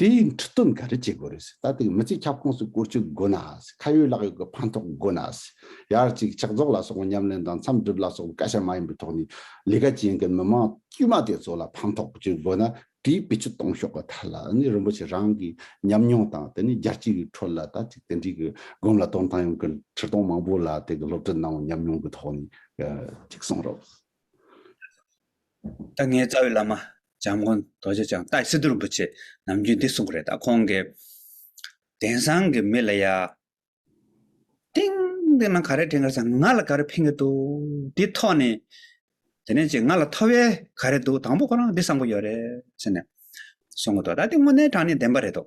དེ་ཡིས་འཕྲུལ་རྟོལ་འགའ་རེ་བྱེད་དགོས་རེད། ད་ཐེངས་མི་ཚེའི་ཁྱབ་ཁོངས་སུ་བཀོལ་སྤྱོད་དགོས་ན། ཁ་ཡོད་ལག་ཡོད་ཀྱི་ཕན་ཐོགས་དགོས་ན། ཡར་གཅིག་ཕྱག་རྫོགས་ལ་སོགས་པ་ཉམས་ལེན་དང་མཚམས་སྒྲུབ་ལ་སོགས་པ་བཀའ་ཤག་མ་ཡིན་པའི་ཐོག་ནས་ལས་ཀ་བྱེད་མཁན་མི་དམངས་དཀྱུས་མ་དེ་ཚོ་ལ་ཕན་ཐོགས་བཀོལ་སྤྱོད་དགོས་ན་དེའི་བེད་སྤྱོད་གཏོང་ཤོག་གི་ཐད་ལ་ནི་རིན་པོ་ཆེ་རང་གི་ཉམས་མྱོང་དང་དེ་ནས་རྒྱལ་སྤྱི་ཡི་ཁྲོད་ལ་ད་ཅིག་དེ་འདྲའི་གི་སྒོམ་ལ་སྟོན་སྟངས་ཡོང་གི་ཕྱིར་གཏོང་མང་པོ་ལ་དེ་གི་སློབ་ཁྲིད་གནང་བའི་ཉམས་མྱོང་གི་ཐོག་ནས་ཅིག་གསུངས་རོགས། ད་ངའི་རྩ་བའི་བླ་མ། འཇམ་མགོན་རྡོ་རྗེ་འཆང་ཏཱའི་སི་ཏུ་རིན་པོ་ཆེས་ནམ་རྒྱུན་འདི་གསུང་གི་རེད་ད་ཁོང་གི། དེང་སང་གི་མི་ལ་ཡ། ཏིང། འདི་ནང་ག་རེ་དྲན་གི་རེད་ད་ང་ལ་ག་རེ་ཕན་གི་འདུག་དེ་ཐོག་ནས། དེ་ནས་ཅིག་ང་ལ་ཐོབ་ཡས་ག་རེ་འདུག་དང་པོ་ཁོ་རང་འདི་བསམ་གི་ཡོད་རེད་ཟེར་ནས། གསུང་གི་འདུག་ད་འདི་དངོས་གནས་དྲང་ནས་བདེན་པ་རེད་འདུག་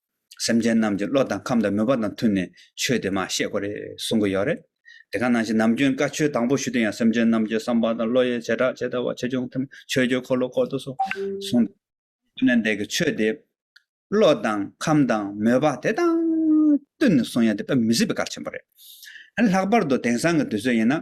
སེམས་ཅན་རྣམས་ཀྱི་བློ་དང་ཁམས་དང་མོས་པ་དང་མཐུན་ནས་ཆོས་དེ་མ་བཤད་དགོས་རེད་གསུང་གི་ཡོད་རེད། དེ་ག་ནང་བཞིན་ནམ་རྒྱུན་བཀའ་ཆོས་དང་པོ་ཞུ་དུས་ཡང་སེམས་ཅན་རྣམས་ཀྱི་བསམ་པ་དང་བློ་ཡི་བྱེ་བྲག་ཇི་ལྟ་བ་ཆེ་ཆུང་མཐུན་པའི་ཆོས་ཀྱི་འཁོར་ལོ་བསྐོར་དུ་སོང་སོང་དུས་ནས་འདས་ཀྱི་ཆོས་དེ་བློ་དང་ཁམས་དང་མོས་པ་དེ་དང་བསྟུན་ནས་གསུང་ཡ་དེ་དཔེ་མི་སྲིད་པའི་གར་ཆེན་པོ་རེད། ལྷག་པར་དུ་དེང་སང་གི་དུས་ཚོད་ཡིན་ན་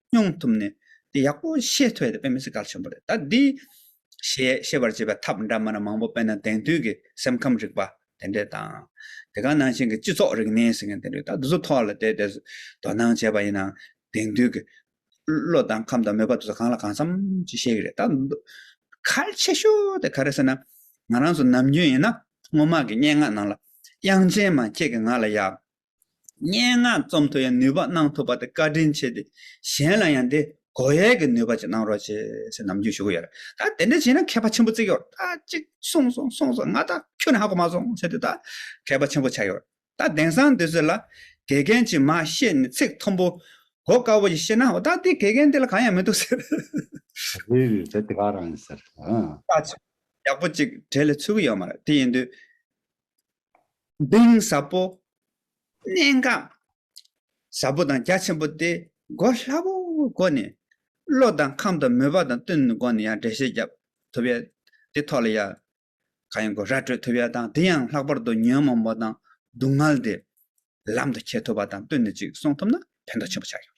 སྙོང་ཐུབ་ནས་དེ་ཡག་པོ་ཤེས་ཐུབ་ཡོད་དེ་པེ་མི་སི་གལ་ཆེན་པོ་རེད་ད་འདི། ཞེས་ཤེས་པར་བྱེད་པའི་ཐབས་འདྲ་མིན་མང་པོ་དཔེར་ན་དེང་དུས་ཀྱི་སེམས་ཁམས་རིག་པ་དེ་འདྲས་དང། དེ་ག་ནང་བཞིན་གྱི་སྤྱི་ཚོགས་རིག་གནས་ཟེར་མཁན་དེ་འདྲས་ད་དུ་ཚོ་ཐོག་ལ་དེ་དེ་དོ་སྣང་བྱས་པ་ཡིན་ནའང་དེང་དུས་ཀྱི། བློ་དང་ཁམས་དང་མོས་པ་དེ་ཚོ་གང་ལ་གང་འཚམ་ཅིག་ཤེས་ཀྱི་རེད་ད། གལ་ཆེ་ཤོས་དེ་ག་རེད་ཟེར་ན། ང་རང་ཚོ་ནམ་རྒྱུན་ཡིན་ན་སྔོན་མ་གི་སྙན་ངག་ནང་ལ། དབྱངས་ཅན་མ་ཁྱེད་ཀྱིས་ང་ལ་ཡག། སྙན་ངག་རྩོམ་དུ་ཡང་ནུས་པ་གནང་ཐུབ་པ་དེ་བཀའ་དྲིན་ཆེ་སྟེ་གཞན་ལ་ཡང་དེ་གོ་ཡས་ཀྱི་ནུས་པ་ཅིག་གནང་རོགས་བྱེད་ཅེས་ནམ་རྒྱུན་ཞུ་གི་ཡོད་རེད་ད་དེ་འདྲ་བྱས་ན་མཁས་པ་ཆེན་པོ་བརྩི་གི་ཡོད་རེད་ད་ཅིག་གསུངས་སོང་གསུངས་སོང་ང་ད་ཁྱོད་ནས་ཧ་གོ་མ་སོང་ཟེར་དུས་ད་མཁས་པ་ཆེན་པོ་ཆགས་ཡོད་རེད་ད་དེང་སང་དུས་ཚོད་ལ་དགེ་རྒན་གྱིས་མ་བཤད་ནས་ཚིག་མཐོན་པོ་གོ་དཀའ་བོ་ཞིག་བཤད་ན་འོ་ད་དེ་དགེ་རྒན་དེ་ལ་གང་ཡང་མི་འདུག་ཟེར། རེད་རེད་ད་དེ་ག་རང་ཡིན་ཟེར། ལྟ་ཅི། ཡག་པོ་ཅིག་བྲེལ་ལེ་ཚུལ་གི་ཡོད་མ་རེད་དེ་ཡིན་དུས། གདིང་ཟབ་པོ། གནད་འགག་ཟབ་པོ་དང་རྒྱ་ཆེན་པོ་སྟེ་གོ་སླ་བོའི་སྒོ་ནས་བློ་དང་ཁམས་དང་མོས་པ་དང་བསྟུན་སྒོ་ནས་ཡང་འགྲེལ་བཤད་བརྒྱབ་ཐུབ་ཡོད། དེ་ཐོག་ལ་ཡང་གང་ཡིན་གོ་ར་སྤྲོད་ཐུབ་ཡོད་དང་དེ་ཡང་ལྷག་པར་དུ་ཉོན་མོངས་པ་དང་སྡུག་བསྔལ་དེ་ལམ་དུ་འཁྱེར་ཐུབ་པ་དང་བསྟུན་ནས་ཅིག་གསུང་ཐུབ་ན་ཕན་ཐོགས་ཆེན་པོ་ཆགས་ཡོད།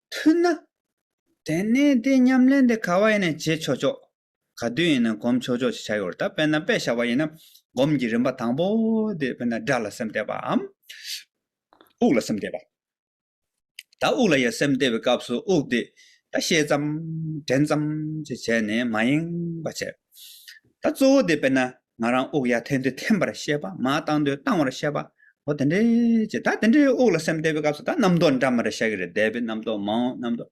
མཐུན་ན། དེ་ནས་དེ་མཉམ་ལེན་དེ་ག་བ་ཡིན་ན་བྱེད་ཆོག་ཆོག། ག་དུས་ཡིན་ན་གོམས་ཆོག་ཆོག་ཅིག་བྱ་ཡོད་ད་དཔེར་ན་དཔེ་བྱ་བ་ཡིན་ན་སྒོམ་གྱི་རིམ་པ་དང་པོ་དེ་དཔེར་ན་སྒྲ་ལ་སེམས་གཏད་པའམ། དབུགས་ལ་སེམས་གཏད་པ། ད་དབུགས་ལ་ཡང་སེམས་གཏད་པའི་སྐབས་སུ་དབུགས་དེ་ད་ཤེས་ཙམ་དྲན་ཙམ་ཅིག་བྱས་ནས་མ་ཡེངས་པ་བྱས། ད་གཙོ་བོ་དེ་དཔེར་ན་ང་རང་དབུགས་ཡར་འཐེན་དུས་འཐེན་པར་བཤད་པ་མར་བཏང་དུས་བཏང་བར་བཤད་པ། འོ་དེ་འདྲའི་ཅེས་ད་དེ་འདྲའི་དབུགས་ལ་སེམས་གཏད་པའི་སྐབས་སུ་ད་རྣམ་རྟོག་འདྲ་མ་རེད་བཤད་ཀྱི་རེད་འདས་པའི་རྣམ་རྟོག་མང་འོངས་རྣམ་རྟོག།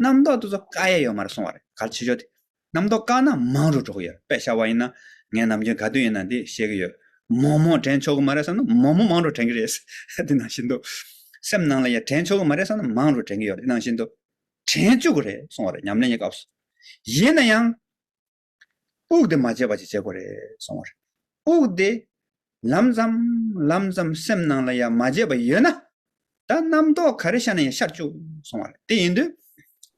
རྣམ་རྟོག་དེ་ཚོ་དཀའ་ཡས་ཡོད་མ་རེད་སོང་བ་རེད་ག་ཆེ་ཆོག་དེ། རྣམ་རྟོག་དཀའ་ན་མང་རུ་འགྲོ་གི་ཡོད་རེད་པས་བྱ་བ་ཡིན་ན། ངས་ནམ་རྒྱུན་ག་དུས་ཡིན་ན་འདི་བཤད་ཀྱི་ཡོད། མོག་མོག་དྲན་ཆོག་གི་མ་རེད་བསམ་ན་མོག་མོག་མང་རུ་དྲན་གྱི་རེད། དེ་ནང་བཞིན་དུ། སེམས་ནང་ལ་ཡང་དྲན་ཆོག་གི་མ་རེད་བསམ་ན་མང་རུ་དྲན་གྱི་ཡོད་རེད་ནང་བཞིན་དུ། དྲན་བཅུག་གི་རེད་སོང་བ་རེད་ཉམས་ལེན་གྱི་སྐབས་སུ། ཡིན་ན་ཡང། དབུགས་དེ་མ་བརྗེད་པ་ཅིག་བྱེད་དགོས་རེད་སོང་བ་རེད། དབུགས་དེ་ལམ་ཙམ་ལམ་ཙམ་སེམས་ནང་ལ་ཡང་མ་བརྗེད་པ་ཡོད་ན། ད་རྣམ་རྟོག་ག་རེ་ཤར་ན་ཡང་ཤར་བཅུག་སོང་བ་རེད་དེ་ཡིན་དུས།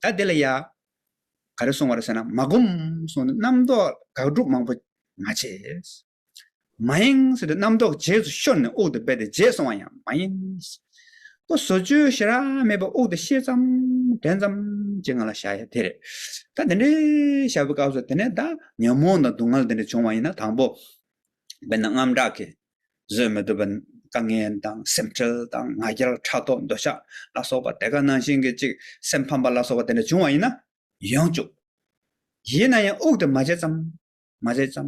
ད་དེ་ལ་ཡ། ག་རེ་སོང་བ་རེད་ཟེར་ན་མ་སྒོམ་སོང་ནས་རྣམ་རྟོག་དགག་སྒྲུབ་མང་པོ་མ་བྱེད། མ་ཡིན། རྣམ་རྟོག་རྗེས་སུ་ཤོར་ནས་དབུག་ཏུ་སྦས་ཏེ་རྗེས་སོང་བ་ཡང་མ་ཡིན། སྐུ་བཟོ་བཅུའི་ཞེ་རགས་མེད་པ་དབུག་ཏུ་ཤེས་ཙམ་དྲན་ཙམ་གྱི་ངང་ལ་བཞག་ཡ་དེ་རེད། ད་དེ་འདྲའི་བཞག་པའི་སྐབས་སུ་དེ་ནས་བདག་ཉོན་མོངས་དང་སྡུག་བསྔལ་དེ་འདྲ་བྱུང་བ་ཡིན་ན་དང་པོ། དཔེར་ན་རྔམ་སྐྲག་གིས་བཟོད་མི་ཐུབ་པ། དཀའ་ངལ་དང་སེམས་ཁྲལ་དང་ང་རྒྱལ་ཕྲག་དོག་འདོད་ཆགས་ལ་སོགས་པ་དེ་ག་ནང་བཞིན་གྱི་ཅིག་སེམས་ཕམ་པ་ལ་སོགས་པ་དེ་འདྲ་བྱུང་བ་ཡིན་ན། ཡོངས་གཅོག་ཡིན་ན་ཡང་དབུག་ཏུ་མ་བྱས་ཙམ་མ་བྱས་ཙམ་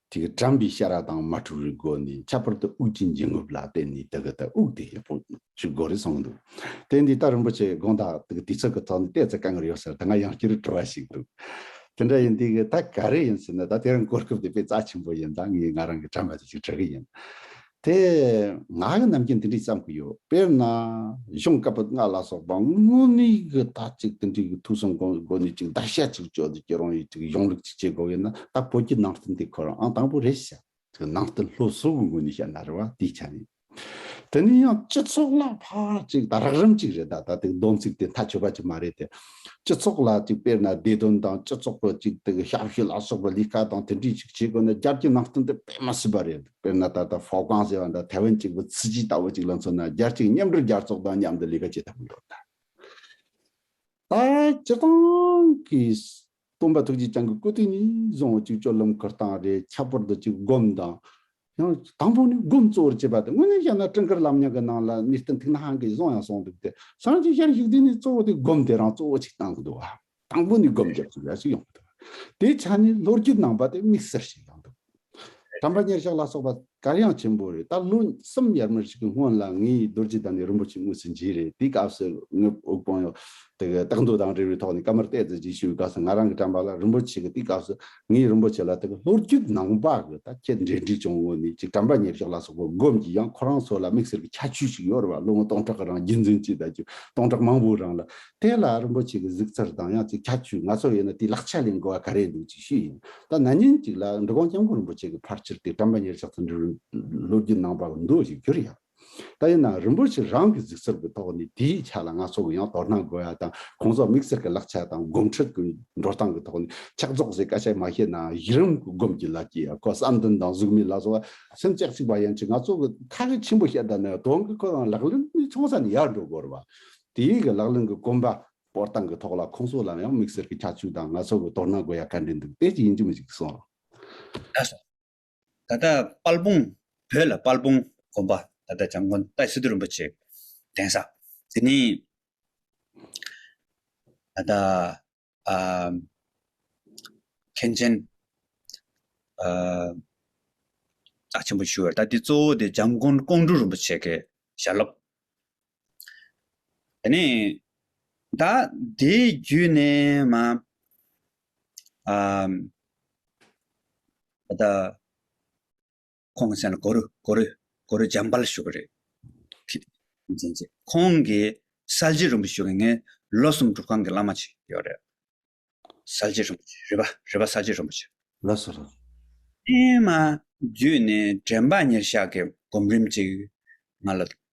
དེ་གར་དྲངས་པའི་ཤ་ར་དང་མ་ཕྲུག་རིགས་སྒོ་ནས་ཁྱད་པར་དུ་དབུགས་ཀྱི་འབྱིན་རྔུབ་ལ་བརྟེན་ནས་དེ་གའི་དུ་དབུགས་དེ་ཡག་པོ་ཞིག་དགོས་རེད་གསུངས་འདུག་དེ་འདི་ལྟར་རིན་པོ་ཆེ་དགོངས་དག་དེ་གའི་དུས་ཚོད་ཀྱི་ཐོག་ནས་བལྟས་ཚེ་དཀའ་ངལ་ཡོད་ཟེར་དེ་སྔ་ཡང་སྐྱུ་རུ་བྲོ་བ་ཞིག་འདུག་དེ་འདྲ་ཡིན་དུས་ད་ག་རེ་ཡིན་ཟེར་ན་ད་དེ་རིང་གོ་སྐབས་དེ་དཔེ་རྩ་ཆེན་པོ་ཡིན་ད་ངས་ང་རང་གི་དྲན་པ་དེ་ཞིག་དྲི་གི་ཡིན། དེ། ང་གི་རྣམ་མཁྱེན་འདི་འདྲིས་བརྩམས་ཀྱི་ཡོད། དཔེར་ན། གཞུང་བཀའ་པོད་ལྔ་ལ་སོགས་པ་དངོས་གནས་ཀྱི་དག་ཅིག་འདི་འདྲིའི་ཐུགས་བསམ་དགོངས་སྒོ་ནས་ཅིག་བདག་ཤ་ཅིག་གཅོད་ཅིག་རང་ཡུལ་ཅིག་གཞུང་ལུགས་ཅིག་བྱེད་དགོས་ཡོད་ན་ད་བོད་ཀྱི་ནང་བསྟན་འདི་ཁོ་རང་ཨང་དང་པོ་རེད་བཤད། དེ་ནང་བསྟན་ལྷོ་གཟུགས་ཀྱི་ངོས་ནས་བཤད་ན་རེ་བ་དེའི་ཆ་ནས། དེ་ནས་ཡང་སྤྱི་ཚོགས་ལ་ཕར་ཅིག་ད་རགས་རིམ་ཅིག་རེད་ད་ད་ཏིག་སྡོམ་ཚིག་དེ་མཐའ་ཆོད་པ་ཅིག་མ་རེད་དེ། སྤྱི་ཚོགས་ལ་ཅིག་དཔེར་ན་བདེ་དོན་དང་སྤྱི་ཚོགས་ཀྱི་ཅིག་ཏིག་ཞབས་ཞུ་ལ་སོགས་པ་ལས་ཀ་དང་དེ་འདྲིས་ཅིག་བྱེད་དགོས་ན་རྒྱ་བསྐྱེད་ནང་བསྟན་འདི་དཔེ་མ་སྲིད་པ་རེད། དཔེར་ན་ད་ལྟ་བྷོ་ཀང་ཟེར་བ་འདྲ་ཐའེ་ཝན་གཅིག་པུ་ཚི་ཇི་ལྟ་བུ་ཅིག་ལ་མཚོན་ན་རྒྱལ་གཅེས་མཉམ་སྒྲོལ་རྒྱལ་ཚོགས་དང་མཉམ་དུ་ལས་ཀ་བྱེད་ཐབས་ཡོད་ད། ད་སྤྱིར་བཏང་གིས་སྟོན་པ་ཐུགས་རྗེ་ཅང་གི་བཀོད་དོན་ནི་བཟང་བོ་གཅིག་སྤྱོད་ལམ་ཁུར་སྟངས་རེད་ཁྱད་པར་དུ་གཅིག་སྒོམ་དང། ཡང་དང་པོ་ནི་སྒོམ་གཙོ་བོར་བྱེད་པ་དང་དངོས་གནས་བཤད་ན་སྤྲིན་དཀར་ལམ་ཉག་གི་ནང་ལ་མི་སྟན་ཐིག་ནག་གིས་བཟུང་ཡང་སོང་འདུག་སྟེ་བཟང་ཅིག་ཤར་ཞིག་དེ་ནི་གཙོ་བོ་དེ་སྒོམ་དེ་རང་གཙོ་བོ་ཅིག་བཏང་གི་འདུག་ཨ། དང་པོ་ནི་སྒོམ་རྒྱབ་ཙམ་ཡང་ཡོང་མི་ཐུབ། དེའི་ཆ་ནས་ལོ་རྒྱུས་ནང་པ་དེ་དམིགས་བསལ་ཞིག་ཡོང་ཐུབ། དམ་པ་ཉེར་བཞག་ལ་སོགས་པ་གར་ཡང་ཆེན་པོ་རེད་ད་ལོ་གསུམ་ཡར་མར་ཞིག་གི་སྔོན་ལ་ངའི་རྡོ་རྗེ་དང་ནི་རིན་པོ་ཆེ་དངོས་སུ་མཇལ་རེད་དེའི་སྐབས་སུ་ངའི་དབུགས་དཔང་ཡོད་དེ་གི་རྟགས་མདོ་དང་རེ་བའི་ཐོག་ནས་ཀ་མར་གཏད་རྩིས་བྱེད་ཞུས་པའི་སྐབས་སུ་ང་རང་གི་དྲན་པ་ལ་རིན་པོ་ཆེ་གི་དེའི་སྐབས་སུ་ངའི་རིན་པོ་ཆེ་ལ་དེ་གི་ལོ་རྒྱུས་ནང་པ་གི་ད་ཁྱེད་འབྲེལ་འདྲིས་བྱུང་ངོ་ནི་ཅིག་དམ་པ་ཉེར་བཞག་ལ་སོགས་པ་སྒོམ་གྱི་ཡང་ཁོ་རང་ཚོ་ལ་དམིགས་བསལ་གི་ཁྱད་ཆོས་ཞིག་ཡོད་རེད་བ་ལོ་ངོ་སྟོང་ཕྲག་གི་རང་རྒྱུན་འཛིན་བྱས་ད་རྒྱུ་སྟོང་ཕྲག་མང་པོའི་རང་ལ་དེ་ལ་རིན་པོ་ཆེ་གི་གཟུགས་ཚུར་དང་ཡང་ཅིག་ཁྱད་ཆོས་ང་ཚོར་ཡོད་ན་དེའི་ལག་ཆ་ལས་འགུལ་བ་ག་རེ་འདུག་ཅེས་ཞུས་ཡིན། ད་ན་ཉིན་གཅིག་ལ་འབྲི་གུང་སྐྱབས་མགོན་རིན་པོ་ཆེ་གི་ཕར་ཕྱིར་དེ་བཀྲམ་པ་ཉེར་ཆགས་སུ་འབྲི་ལོ་རྒྱུས་ནང་པར་འདུག་ཅེས་བསྒྱུར་ཡང། ད་ཡིན་ནའང་རིན་པོ་ཆེ་རང་གི་གཟུགས་ཚུར་གྱི་ཐོག་ནས་དེའི་ཆ་ལ་ང་ཚོ་གི་ཡང་དོ་སྣང་དགོས་ཡ་དང་ཁོང་ཚོ་དམིགས་བསལ་གྱི་ལག་ཆ་དང་སྒོམ་ཁྲིད་ཀྱི་འགྲོ་སྟངས་ཀྱི་ཐོག་ནས་ཕྱག་རྫོགས་ཟེར་བཀའ་ཆད་མ་ཤེས་ནའང་གཞི་རིམ་གྱི་སྒོམ་གྱི་ལག་གི་ཡ་གོ་བསམ་འདུན་དང་གཟུགས་མེད་ལ་སོགས་པ་སེམས་སྐྱེད་ཅིག་པ་ཡན་ཆད་ང་ཚོ་གི་ཐག་གིས་ཆེན་པོ་ཤེས་ད་ནི་དོན་གྱི་ཁོ་རང་ལག་ལེན་ཚོང་ས་ནས་ཡར་འགྲོ་དགོས་རུང་བ། དེ་ཡིག་གི་ལག་ལེན་གྱི་དཀོན་པ། སྤོར་སྟངས་ཀྱི་ཐོག་ལ་ཁོང་ཚོ་ལའང་དམིགས་བསལ་གྱི་ཁྱད་ཆོས་དང་ང་ཚོ་གི་དོ་སྣང་དགོས་ཡ་ག་འདྲེ་འདུག་དེ་ཅི་ཡིན་གྱི་མི་གཅིག་གིས་གསུངས། ད་སོང། ད་ལྟ་དཔལ་སྤུངས། བོད་ལ་དཔལ་སྤུངས་དགོན་པ་ད་ལྟ་བྱམས་མགོན་ཏཱའི་སི་ཏུ་རིན་པོ་ཆེ་གདན་ས། དེ་ནི། ད་ལྟ། མཁན་ཆེན། བདག་ཆེན་པོ་ཞུ་བར་ལྟ། དེའི་གཙོ་བོ་དེ་འཇམ་མགོན་ཀོང་སྤྲུལ་རིན་པོ་ཆེ་གི་ཞལ་སློབ། དེ་ནས་བདག་དེའི་བརྒྱུད་ནས་མ། བདག། ཁོང་སེང་ལ་གོ་རུ་གོ་རུ་གོ་རུ་འཇམ་དཔལ་ལ་ཞུ་གི་རེད། ཁྱེད་ཀྱིས་མཚན་བྱེད། ཁོང་གིས་གསལ་བྱེད་རིན་པོ་ཆེ་ངས་ལོ་གསུམ་སྒྲུབ་ཁང་གི་བླ་མ་བྱས་ཡོད་རེད། གསལ་བྱེད་རིན་པོ་ཆེ་རེད་པ་རེད་པ་གསལ་བྱེད་རིན་པོ་ཆེ། ལོ་སོ་རུ། ཨེ་མ། བརྒྱུད་ནས་དྲན་པ་ཉེར་བཞག་གི་སྒོམ་རིམ་ཅིག་ང་ལ་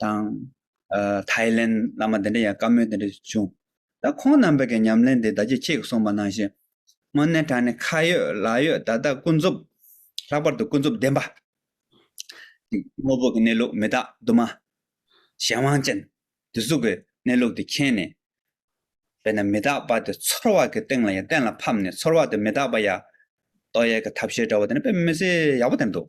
དང། ཐའི་ལེན་བླ་མ་དེ་འདྲ་ཡང་བཀའ་མོལ་དེ་འདྲ་བྱུང། ད་ཁོང་རྣམ་པ་གི་ཉམས་ལེན་དེ་ད་ཅི་ཆེས་གསུངས་པ་ནང་བཞིན། སྔོན་གནས་གྲངས་ནི་ཁ་ཡོད་ལག་ཡོད་ད་ལྟ་ཀུན་རྫོབ། ལྷག་པར་དུ་ཀུན་རྫོབ་བདེན་པ། དངོས་པོ་གི་གནས་ལུགས་མི་རྟག་དུ་མ། གཞན་དབང་ཅན། དུ་གཟུགས་པའི་གནས་ལུགས་དེ་མཁྱེན་ནས། དཔེར་ན་མི་རྟག་པ་དེ་ཚོར་བ་གི་སྟེང་ལ་ཡང་གཏན་ལ་ཕབ་ནས་ཚོར་བ་དེ་མི་རྟག་པ་ཡ། རྟོག་ཡས་ཀྱི་ཐབས་ཤེས་འདྲ་བོ་དེ་ནི་དཔེ་མི་སྲིད་ཡག་པོ་དེ་འདུག།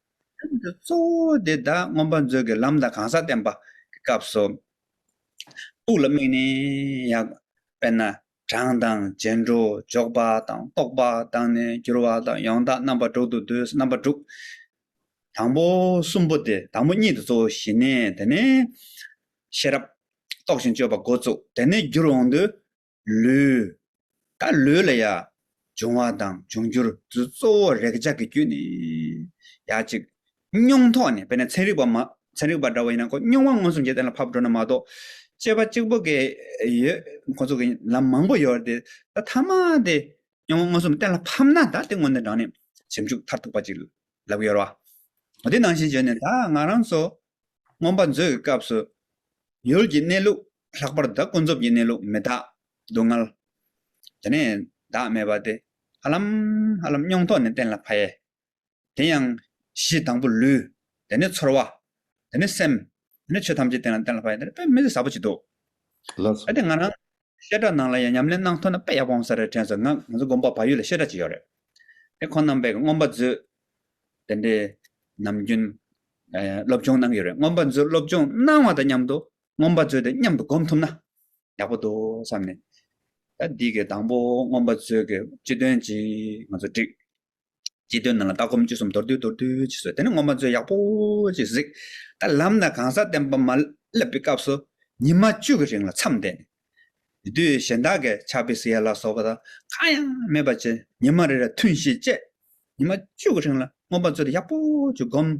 རིམ་གྱི་གཙོ་བོ་དེ་བདག་མངོན་པར་མཛོད་ཀྱི་ལམ་དང་གང་ཟག་བསྟན་པ་གི་སྐབས་སོ། ཐུགས་ལ་དམིགས་ནས་ཡང། དཔེར་ན་གྲངས་དང་རྗེས་འགྲོ་འཇོག་པ་དང་རྟོག་པ་དང་ནི་འགྱུར་བ་དང་ཡང་དག་རྣམ་པ་དྲུག་ཏུ་བསྡུས་སོ་རྣམ་པ་དྲུག། དང་པོ་གསུམ་པོ་དེ་དང་པོ་གཉིས་དེ་གཙོ་བོ་ཞི་གནས་དེ་ནས། ཤེས་རབ། རྟོགས་ཤིང་དཔྱོད་པ་འགོ་བཙུགས་དེ་ནས་རྒྱུར་འོང་དུས། ལུས། ད་ལུས་ལ་ཡང། འབྱུང་བ་དང་འབྱུང་འགྱུར། དུ་གཙོ་བོ་རེག་བྱ་གི་རྒྱུད་ནི། ཡ་གཅིག། སྙུང་ཐོག་ནས་དཔེར་ན་ཚན་རིག་པ། ཚན་རིག་པ་འདྲ་བ་ཡིན་ན་ཁོ་སྙུང་བ་མངོན་སུམ་གྱིས་གཏན་ལ་ཕབ་འགྲོ་ན་མ་གཏོགས། དཔྱད་པ་གཅིག་པོ་གས་ཡོད་ཁོ་ཚོ་གི་ལམ་མང་པོ་ཡོད་དེ། ད་ཐ་མ་དེ། སྙུང་བ་མངོན་སུམ་གཏན་ལ་ཕབ་ན་ད་དེ་དངོས་དོན་དྲངས་ནས། ཞིབ་འཇུག་མཐར་ཐུག་པ་ཅིག་ལབ་གི་ཡོད་རེད་བ། དེ་ནང་བཞིན་བརྗོད་ནས་ད་ང་རང་ཚོ། རྔོན་པ་མཛོད་ཀྱི་སྐབས་སུ། ཡུལ་གྱི་གནས་ལུགས། ལྷག་པར་བདག་ཀུན་རྫོབ་ཀྱི་གནས་ལུགས་མི་རྟག་སྡུག་བསྔལ། དེ་ནས་བདག་མེད་པ་སྟེ་ཧ་ལམ་ཧ་ལམ་སྙོང་ཐོག་ནས་གཏན་ལ་ཕབ། དེ་ཡང་གཞི་དང་པོ་ལུས། དེ་ནས་ཚོར་བ། དེ་ནས་སེམས། དེ་ནས་ཆོས་ཐམས་ཅད་གཏན་ལ་ཕབ། དེ་རེད་མི་ཚེ་ཟབ་པོ་བྱེད་འདུག། གལ་ཏེ་ང་རང་བཤད་གྲྭ་ནང་ལ་ཡང་ཉམས་ལེན་གནང་ཐུབ་ན་དཔེ་ཡག་པོ་འོང་ས་རེད་དྲན་སོང་ང་ང་ཚོ་དགོན་པ་བ་ཡུལ་ལ་བཤད་གྲྭ་གཅིག་ཡོད་རེད་དེ་ཁོང་རྣམ་པས་རྔོན་པ་མཛོད་དེ་འདྲའི་ནམ་རྒྱུན་སློབ་སྦྱོང་གནང་གི་ཡོད་རེད་རྔོན་པ་མཛོད་སློབ་སྦྱོང་གནང་བ་དང་མཉམ་དུ་སྔོམ་པ་མཛོད་དེ་མཉམ་དུ་བསྒོམ་ཐུབ་ན་ཡག་པོ་འདུག་བསམ་ནས། ད་འདི་གའི་དང་པོ་སྔོམ་པ་མཛོད་ཀྱི་སྤྱི་དོན་གཅིག་ང་ཚོ་བསྒྲིགས། སྤྱི་དོན་ནང་ལ་ལྟ་སྒོམ་སྤྱོད་གསུམ་མདོར་བསྡུས་མདོར་བསྡུས་ཀྱིས་བཟོས་དེ་ནས་སྔོམ་པ་མཛོད་ཡག་པོ་ཅིག་གཟིགས། ད་ལམ་དང་གང་ཟག་བསྟན་པ་མ་བསླབ་པའི་སྐབས་སུ་ཉིན་མ་བཅུ་གི་རིང་ལ་མཚམས་འདས་ནས། དེ་དུས་གཞན་དག་གིས་ཕྱག་དཔེ་སི་ཡ་ལ་སོགས་པ་དང་གང་ཡང་མེད་པ་བྱས་ཉིན་མ་རེ་རེར་ཐུན་བཞི་བཅད། ཉིན་མ་བཅུ་གི་རིང་ལ་སྔོམ་པ་མཛོད་དེ་ཡག་པོ་ཅིག་བསྒོམས།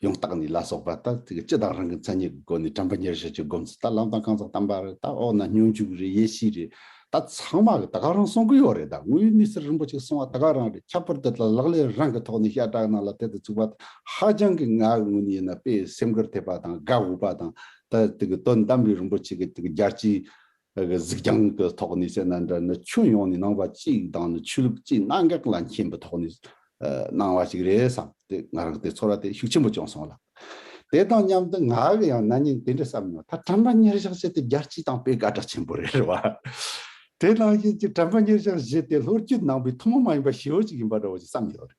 ཡང་དག་ནི་ལ་སོགས་པ་ལྟར་ཚིག་གི་སྤྱི་དང་རང་གི་མཚན་ཉིད་ཀྱི་སྒོ་ནས་དྲན་པ་ཉེར་བཞི་ཀྱི་སྒོམ་ཚུལ་ལྟར་ལམ་དང་རྐང་ཚགས་དམ་པ་རེད་ད་འོག་ན་སྙོམས་འཇུག་རེད་ཡེ་ཤེས་རེད་ད་ཚང་མ་གི་ད་ག་རང་གསུང་གི་ཡོད་རེད་ད་དངོས་ཡོད་གནས་ཚུལ་རིན་པོ་ཆེ་གསུང་བ་ད་ག་རང་རེད་ཁྱད་པར་འདི་དག་ལག་ལེན་རང་གི་ཐོག་ནས་ཤ་ཀྲག་ནང་ལ་དེད་དུ་བཅུག་པ་དང་ཧ་ཅང་གི་ང་གི་ངོ་ནས་ཡིན་ན་དཔེ་ཡི་སེམས་ཁུར་ཐེབས་པ་དང་དགའ་འོས་པ་དང་ད་དེ་གི་དོན་དམ་པའི་རིན་པོ་ཆེ་གི་དེ་གི་རྒྱལ་སྤྱིའི་གཟིགས་རྒྱང་གི་ཐོག་ནས་བཤད་ན་འདྲ་ནི་ཁྱོན་ཡོངས་ནས་གནང་བ་གཅིག་དང་ནི་ཆོས་ལུགས་གཅིག་གནད་འགག་ལ་མཁྱེན་པའི་ཐོག་ནས་གནང་བ་ཞིག་རེད་བསམ་སྟེ་ང་རང་དེ་ཚོར་བ་དེ་ཤུགས་ཆེན་པོ་བྱུང་སོང་ལ། དེ་དང་མཉམ་དུ་ང་གི་ཡང་ན་ཉིན་དེ་འདྲ་བསམ་མྱོང་ད་དྲན་པ་ཉེར་གཞག་བྱས་ཏེ་རྒྱལ་སྤྱི་དང་སྤེལ་དགའ་གྲགས་ཆེན་པོ་རེད་བ། དེ་ནང་བཞིན་གྱི་དྲན་པ་ཉེར་གཞག་བྱས་ཏེ་ལྷོ་རྒྱུད་ནང་པའི་ཐུན་མོང་མ་ཡིན་པ་ཞེའུ་ཅིག་ཡིན་པ་འདྲ་བོ་ཞིག་བསམ་ཡོད་རེད།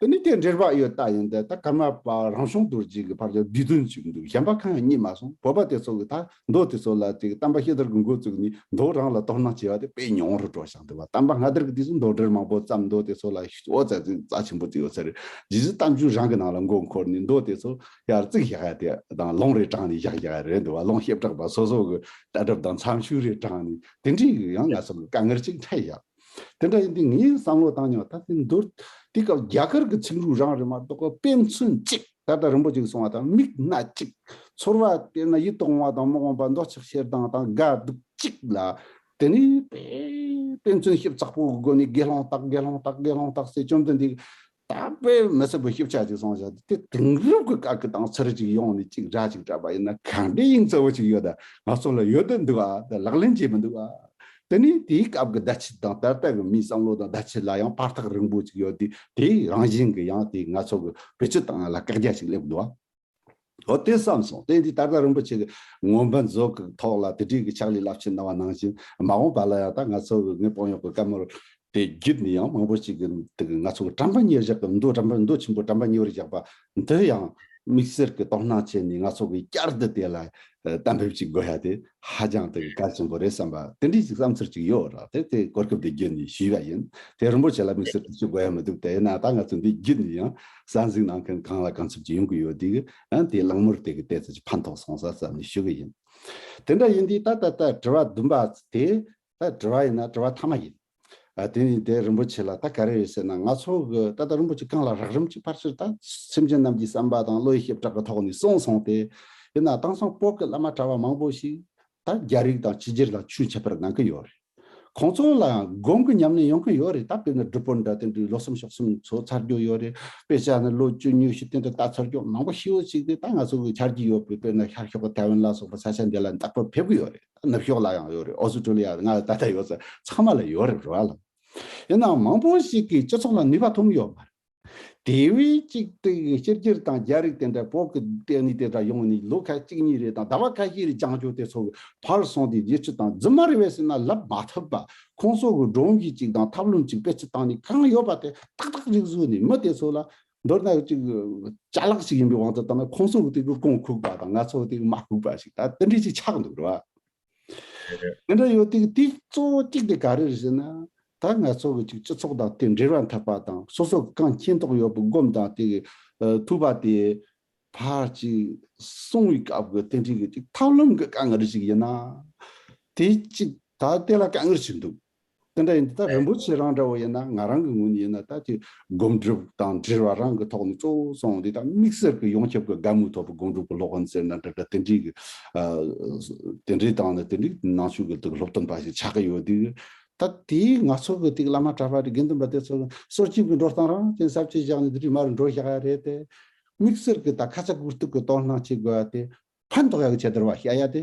དེ་ནི་དེ་འདྲེར་བག་ཡོད་རྟགས་ཡིན་ཏེ་ད་གམ་པ་རང་བྱུང་རྡོ་རྗེ་གི་བར་དུ་བསྡུས་དོན་གཅིག་འདུག་གཞན་པ་གང་ཡང་རྙེད་མ་སོང་བོད་པ་དེ་ཚོ་གི་ད་མདོ་དེ་ཚོ་ལ་དེ་གཏམ་པ་ཤེས་དར་གི་འགོ་བཙུགས་ནས་མདོ་རང་ལ་དོ་སྣང་བྱེད་པ་དེ་དཔེ་ཉུང་རུ་འགྲོ་ཞིང་དེ་བ་གཏམ་པ་སྔ་དར་གི་དུས་སུ་མདོ་འདྲེར་མང་པོ་བརྩམས་མདོ་དེ་ཚོ་ལ་ཨོ་རྩལ་ཚན་རྩལ་ཆེན་པོ་བརྩིགས་ཡོད་ཚད་རེད་རྗེས་སུ་གཏམ་རྒྱུད་རང་གི་ནང་ལ་མགོ་འཁོར་ནས་མདོ་དེ་ཚོ་ཡར་བརྩིགས་བཞག་ཡ་དེ་དང་ལུང་རེ་དྲངས་ནས་བཞག་བཞག་རེད་འདུག་བ་ལུང་ཞིབ་དྲག་པ་སོ་སོ་གི་ལྟ་གྲུབ་དང་མཚམས་ཤུགས་རེ་དྲངས་ནས་དེ་འདྲའི་ཡང་ང་ཚོ་ལ་དཀའ་ངལ་ཅིག་འཕྲད་བཞག། དེ་འདྲ་ཡིན་དུས་ངས་བསམ་བློ་བཏང་མྱོང་ད་ལྟའི་མདོར། དེ་སྐབས་རྒྱ་གར་གྱི་ཚིག་འབྲུ་རང་རེད་མ་གཏོགས་དཔེ་མཚོན་གཅིག་ད་ལྟ་རིན་པོ་ཆེ་གི་གསུང་བ་དང་མིག་སྣ་གཅིག། ཚོར་བ་དཔེར་ན་ཡིད་དུ་འོང་བ་དང་མི་འོང་པ་མདོག་ཆགས་ཤེར་སྡང་དང་དགའ་སྡུག་གཅིག་ལ། དེ་ནས་དཔེ་མཚོན་ཞིབ་ཚགས་པོའི་སྒོ་ནས་དགེ་སློང་དག་དགེ་སློང་དག་དགེ་སློང་དག་ཟེར་བཅོམ་ལྡན་འདས་ཀྱི་དག་པའི་མི་སྲིད་པའི་ཤེས་བྱ་ཅིག་བཟང་བྱ་དེ་དེང་རབས་ཀྱི་དགའ་གི་དང་ཚུར་ཅིག་ཡོང་ནས་ཅིག་འདྲ་ཅིག་འདྲ་པ་ཡིན་ན་གང་འདྲའི་དབྱིངས་གཙོ་བོ་ཅིག་ཡོད་ང་ཚོ་ལ་ཡོད་དུ་འདུག་ད་ལག་ལེན་བྱེད་མི་འདུག་དེ་ནི་དེའི་སྐབས་ཀྱི་བརྡ་ཆད་དང་ད་ལྟ་གི་མིའི་བསམ་བློ་དང་བརྡ་ཆད་ལ་ཡང་བར་ཐག་རིང་པོ་ཅིག་ཡོད་དུས་དེའི་རང་བཞིན་གྱི་ཡང་དེའི་ང་ཚོ་གི་བེད་སྤྱོད་དང་ལ་བཀག་རྒྱ་ཞིག་སླེབས་འདུག། ལྷོ་བསྟན་བསམས་སོང་བསྟན་འདིས་ད་ལྟ་རིན་པོ་ཆེ་གི་ངོ་འབར་མཛོད་ཀྱི་ཐོག་ལ་དེ་དྲིས་ཀྱི་ཕྱག་ལས་རླབས་ཆེན་གནང་བ་ནང་བཞིན་མ་འོངས་པ་ལ་ཡང་དག་ང་ཚོ་གི་ངའི་དཔོན་གཡོག་གི་བཀའ་མོལ་དེ་བརྒྱུད་ནས་ཡང་མང་པོ་ཞིག་གི་དེ་གི་ང་ཚོ་གི་གྲམ་པ་གཉེར་བཞག་གི་མདོ་གྲམ་པ་མདོ་ཆེན་པོ་གྲམ་པ་གཉེར་བཞག་པ་འདི་ཡང་དམིགས་བསལ་གྱི་དོ་སྣང་བྱས་ནས་ང་ཚོ་གི་བསྐྱར་དུ་དེ་ལ་གཏན་འབེབས་ཅིག་དགོས་ཡ་དེ་ཧ་ཅང་དེ་གི་གལ་ཆེན་པོ་རེད་བསམ་པ་དེ་འདྲིས་ཅིག་བསམ་ཚུལ་ཅིག་ཡོད་རག་དེ་དེ་གོ་སྐབས་འདི་བརྒྱུད་ནས་ཞུས་པ་ཡིན་དེ་རིན་པོ་ཆེ་ལ་དམིགས་བསལ་དུ་ཞུ་དགོས་ཡ་མི་འདུག་དེ་ཡིན་ན་ད་ང་ཚོ་འདི་བརྒྱུད་ནས་ཡང་གསར་འཛུགས་གནང་མཁན་གང་ལ་གང་འཚུབ་ཀྱིས་ཡོང་གི་ཡོད་དུས། ཡང་དེའི་གླེང་མོར་དེ་གི་ལྟས་ཚོད་ཀྱིས་ཕན་ཐོགས་སོང་ས་བསམ་ནས་ཞུ་གི་ཡིན། དེ་འདྲ་ཡིན་དུས་ད་ལྟ་ད་དྲི་བ་བདུན་པ་དེ་ད་དྲི་བ་ཡིན་ན་དྲི་བ་མཐའ་མ་ཡིན། དེ་ནི་ད་རིན་པོ་ཆེ་ལ་ད་ག་རེ་ཡོད་ཟེར་ན་ང་ཚོ་གི་ད་ལྟ་རིན་པོ་ཆེ་གང་ལ་རག་རིམ་གྱིས་ཕར་ཕྱིར་ད་སེམས་ཅན་རྣམས་ཀྱི་བསམ་པ་དང་བློའི་ཞབས་བྲག་གི་ཐོག་ནས་སོང་སོང་སྟེ། ཡིན་ན་དེང་སང་སྤོག་གི་བླ་མ་གྲྭ་བ་མང་པོ་ཞིག་ད་རྒྱ་རིགས་དང་ཕྱི་རྒྱལ་དང་ཆོས་འཆད་པར་གནང་གི་ཡོད་རེད། ཁོང་ཚོ་ལའང་སྒོམ་གི་ཉམས་ལེན་ཡོང་གི་ཡོད་རེད་ད་དཔེར་ན་སྒྲུབ་པོ་འདྲ་དེ་འདྲའི་ལོ་གསུམ་ཕྱོགས་གསུམ་ཚོ་ཚར་རྒྱུ་ཡོད་རེད་དཔེ་ཆ་ནི་ལོ་བཅུ་གཉིས་བཞི་སྟེང་དུ་ལྟ་ཚར་རྒྱུ་མང་པོ་ཤི་འོ་ཅིག་དེ་ད་ང་ཚོ་གི་འཆར་གྱི་ཡོད་པའི་དཔེར་ན་ཤར་ཕྱོགས་ཀྱི་ཐའེ་ཝན་ལ་སོགས་པའི་ས་ཆ་འདི་ལ་འདག་པར་ཕེབས་གི་ཡོད་རེད་ད་ནུབ་ཕྱོགས་ལ་ཡང་ཡོད་རེད་ཨོ་སི་ཀྲོ་ལི་ཡ་ལ་ང་ལ་ད་ལྟ་ཡོད་ཚད་ཚང་མ་ལ་ཡོད་རེད་རེད་བ་ལ། ཡིན་ནའང་མང་པོ་ཞིག་གིས་སྤྱི་ཚོགས་ལ་ནུས་པ་ཐོན་གི་ཡོད་མ་རེད། དེ་བས་གཅིག་སྟེ་ཤེར་སྒྱེར་དང་རྒྱལ་རིགས་དེ་འདྲ་བོགས་ཀྱི་ལྟས་ངན་དེ་འདྲ་ཡོང་ནས་ལོ་ཁ་གཅིག་གཉིས་རེ་དང་ཟླ་བ་ཁ་ཤས་རེ་བྱང་ཆུབ་དེ་ཚོ་གི་བར་སོང་སྟེ་རྗེས་ཆུ་དང་རྫི་མ་རེ་བས་ཟིན་ན་ལབ་མ་ཐུབ་པ་ཁོང་ཚོ་གི་འབྲོང་གི་ཅིག་དང་ཐབས་ལུམ་ཅིག་པེ་ཅི་བཏང་ནས་གང་ཡོད་པ་དེ་ཏག་ཏག་ཅིག་བཟོས་ནས་མི་དེ་ཚོ་ལ། མདོར་ན་ཅིག་བྱ་གླག་ཅིག་ཡིན་པའི་དབང་དུ་བཏང་ན་ཁོང་ཚོ་གི་དེ་གི་རྐང་ཁུག་པ་དང་ང་ཚོ་གི་དེ་གི་མ་ཁུག་པ་ཞིག་ད་དེ་འདྲས་ཅིག་ཆགས་འདུག་རེད་བ། ཨེ་འདྲ་ཡོད་དུས་དེའི་གཙོ་བོ་གཅིག་དེ་ག་རེ་རེད་ཟེར་ན། ད་ང་ཚོ་གི་སྤྱི་ཚོགས་དང་དེ་འབྲེལ་བ་འཐབ་པ་དང་སོ་སོ་གི་གང་མཁྱེན་རྟོགས་ཡོད་པའི་སྒོམ་དང་དེ་གི་ཐུབ་པ་དེ་ཕར་ཅིག་སོང་བའི་སྐབས་ཀྱི་རྟེན་འབྲེལ་གྱི་ཐབས་ལམ་གྱི་དཀའ་ངལ་ཞིག་ཡིན་ན། དེ་གཅིག་ད་ལྟ་ལ་དཀའ་ངལ་ཞིག་འདུག་དེ་འདྲ་ཡིན་ད་རིན་པོ་ཆེ་རང་འདྲ་བོ་ཡིན་ན་ང་རང་གི་ངོས་ནས་ཡིན་ན་ད་དེ་སྒོམ་སྒྲུབ་དང་དྲིལ་བ་རང་གི་ཐོག་ནས་གཙོ་བོ་སོང་འདི་དག་དམིགས་བསལ་གྱི་ཡོངས་ཁྱབ་ཀྱི་དགའ་མོས་ཐོབ་པའི་སྒོམ་སྒྲུབ་ཀྱི་སློབ་དཔོན་ཟེར་ན་འདྲ་འདྲ་དེ་འདྲའི་གི། དེ་འདྲའི་སྟེང་ནས་དེ་འདྲའི་ནང་ཆོས་ཀྱི་དུག་སློབ་སྟོན་པ་ཞིག་ཆགས་ཀྱི་ཡོད་དུས། ད་དེ་ང་ཚོ་གི་དེ་གི་བླ་མ་གྲྭ་པ་དེ་དགེ་འདུན་པ་དེ་ཚོ་གི་སྲོག་ཁྱིམ་གྱི་འགྲོ་སྟངས་རང་བཙན་གསར་བརྗེ་བཞག་ནས་དེ་འདྲའི་མ་རུ་འགྲོ་བཞག་ཡ་རེད་དེ། དམིགས་བསལ་གྱི་ད་ཁ་ཚ་དགུ་གཏུག་གི་དོགས་སྣང་བྱེད་དགོས་པ་དེ། ཕན་ཐོགས་ཡག་གི་བྱེད་བདར་བ་བྱ་ཡ་དེ།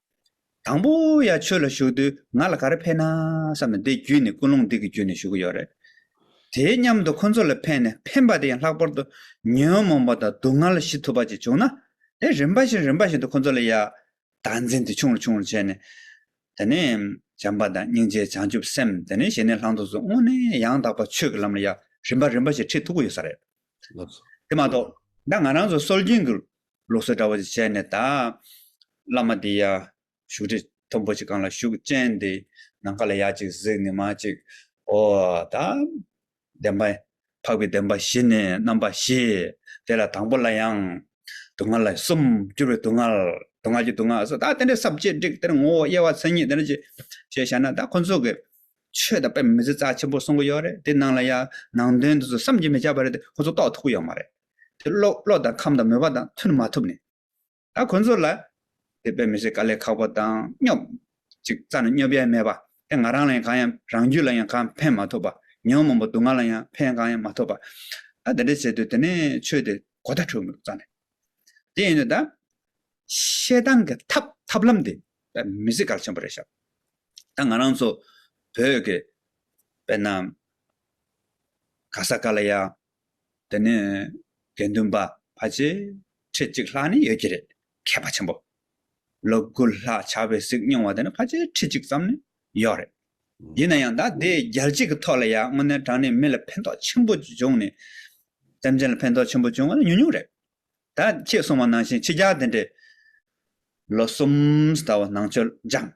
དང་པོ་ཡ་ཆོས་ལ་ཞུགས་དུས་ང་ལ་ག་རེ་ཕན་ན་བསམ་ནས་འདི་བརྒྱུད་ནས་ཀུན་སློང་སྡིག་གི་རྒྱུད་ནས་ཞུགས་ཀྱི་ཡོད་རེད། དེའི་མཉམ་དུ་ཁོ་ཚོ་ལ་ཕན་ནས་ཕན་པ་དེ་ཡང་ལྷག་པར་དུ་ཉོན་མོངས་པ་དང་སྡུག་བསྔལ་ཞི་ཐུབ་པ་ཅིག་བྱུང་ན། དེ་རིམ་པ་བཞིན་རིམ་པ་བཞིན་དུ་ཁོ་ཚོ་ལ་ཡ། དག་འཛིན་དེ་ཆུང་རུ་ཆུང་རུ་བྱས་ནས། དེ་ནས། བྱམས་པ་དང་སྙིང་རྗེ་བྱང་ཆུབ་སེམས་དེ་ནས་ཞི་གནས་ལྷག་མཐོང་སོགས་སྔོན་ནས་ཡང་དག་པར་ཆོས་ཀྱི་ལམ་ལ་ཡ་རིམ་པ་རིམ་པ་བཞིན་ཁྲིད་ཐུབ་ཀྱི་ཡོད་ས་རེད། དེ་མ་གཏོགས། ད་ང་རང་ཚོ་སྲོལ་རྒྱུན་གྱི་ལུགས་སྲོལ་འདྲ་བོ་ཞིག་བྱས་ནས་ད། བླ་མ་འདི་ཡ། བཞུགས་ཁྲི་མཐོན་པོ་ཞིག་གང་ལ་བཞུགས་ཅན་འདི། ནམ་མཁའ་ལ་ཡར་ཅིག་གཟིགས་ནི་མ་ཅིག། ཨོ། ད། བདེན་པ། འཕགས་པའི་བདེན་པ་བཞི་ནི་རྣམ་པ་བཞི། དེ་ལ་དང་པོ་ལ་ཡང། དུག་ལྔ་ལ་གསུམ། བསྐྱུར་བའི་དུག་ལྔ། དུག་ལྔ་གྱི་དུག་ལྔ་སོགས་ད་དེ་འདྲའི་ཟབ་ཆོས་བསྒྲིགས་དེར་ངོ་བོ་དབྱེ་བ་མཚན་ཉིད་དེ་འདྲ་ཅིག། ཞེས་བྱ་ན་ད་ཁོ་ཚོ་གི། ཆོས་དང་དཔེ་མི་གཟིགས་རྩ་ཆེན་པོ་གསུང་གི་ཡོད་རེད་དེ་ནང་ལ་ཡང། ནང་དོན་དེ་ཚོ་བསམ་གྱིས་མི་ཁྱབ་པ་རེད་དེ་ཁོ་ཚོ་རྟོགས་ཐུབ་ཀྱི་ཡོད་མ་རེད། དེ་བློ་བློ་དང་ཁམས་དང་མོས་པ་དང་མཐུན་མ་ཐུབ་ནས། ད་ཁོ་ཚོ་ལ། དེ་དཔེ་མི་ཤེས་དཀའ་ལས་ཁག་པོ་དང་སྙོབ། ཅིག་རྩ་ནས་སྙོབ་ཡས་མེད་པ། དེ་ང་རང་ལ་ཡང་གང་ཡང་རང་རྒྱུད་ལ་ཡང་གང་ཕན་མ་ཐོབ་པ། ཉོན་མོངས་པ་སྡུག་བསྔལ་ལ་ཡང་ཕན་གང་ཡང་མ་ཐོབ་པ། ད་དེ་འདྲ་བྱས་དུས་དེ་ནས་ཆོས་དེ་གོ་ད་འཁྲུལ་མོད་རྩ་ནས། དེ་ཡིན་དུས་ད། བཤད་སྟངས་ཀྱི་ཐབས་ཐབས་ལམ་དེ་དཔེ་མི་ཤེས་གལ་ཆེན་པོ་རེད་ཤག། ད་ང་རང་ཚོ་བོད་ཀྱི། དཔེར་ན། ག་ས་ག་ལ་ཡ། དེ་ནས་དགེ་འདུན་པ་ཕལ་ཆེར་ཁྲི་གཅིག་ལྷག་ནི་ཡོད་ཀྱི་རེད། མཁས་པ་ཆེན་པོ་ལོ་དགུ་ལྷག་བྱ་བའི་གཟིགས་མྱོང་བ་དེ་ནི་ཕལ་ཆེར་ཁྲི་གཅིག་ཙམ་ནི་ཡོད་རེད། ཡིན་ན་ཡང་ད་ལྟའི་རྒྱལ་སྤྱི་གི་ཐོག་ལ་ཡང་དངོས་གནས་དྲང་གནས་མི་ལ་ཕན་ཐོགས་ཆེན་པོ་བྱུང་ནས། སེམས་ཅན་ལ་ཕན་ཐོགས་ཆེན་པོ་བྱུང་བ་ནི་ཉུང་ཉུང་རེད། ད་ཁྱེད་གསུང་བ་ནང་བཞིན་ཕྱི་རྒྱལ་དེ་འདྲས་ལོ་གསུམ་ཟླ་བ་ནང་ཆོས་སྦྱངས།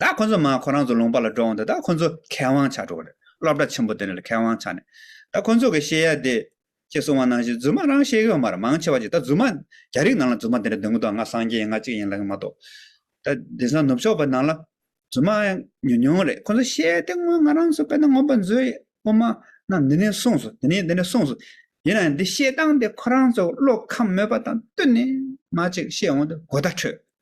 ད་ཁོ་ཚོ་མ་ཁོ་རང་ཚོ་ལུང་པ་ལ་འགྲོ་འོང་དེ་དག་ཁོ་ཚོ་མཁས་དབང་ཆགས་འགྲོ་གི་རེད་སློབ་གྲྭ་ཆེན་པོ་དེ་འདྲ་ལ་མཁས་དབང་ཆགས་ནས་ད་ཁོ་ཚོ་གི་བཤད་ཡ་དེ་ཁྱེད་གསུང་བ་ནང་བཞིན་རྫུན་མ་རང་བཤད་གི་ཡོད་མ་རེད་མང་ཆེ་བ་གཅིག་ད་རྫུན་མ་རྒྱ་རིགས་ནང་ལ་རྫུན་མ་དེ་འདྲ་འདོན་གི་འདུག་ང་སངས་རྒྱས་ཡིན་ང་གཅིག་ཡིན་ལབ་གི་མ་གཏོགས་ད་དེང་སང་ནུབ་ཕྱོགས་པ་ནང་ལ་རྫུན་མ་ཉུང་ཉུང་རེད་ཁོ་ཚོ་བཤད་དེ་སྔོན་ང་རང་ཚོ་དཔེར་ན་ངོམ་པ་མཛོད་ཡིན་ཨོ་མ་ན་འདི་ནས་གསུངས་སོ་འདི་ནས་འདི་ནས་གསུངས་སོ་ཡིན་ནའང་འདི་བཤད་སྟངས་དེ་ཁོ་རང་ཚོ་བློ་ཁམས་མོད་པ་དང་བསྟུན་ནས་མ་ཅིག་བཤད་འོང་དུ་དགོད་བརྡ་འཕྲོད་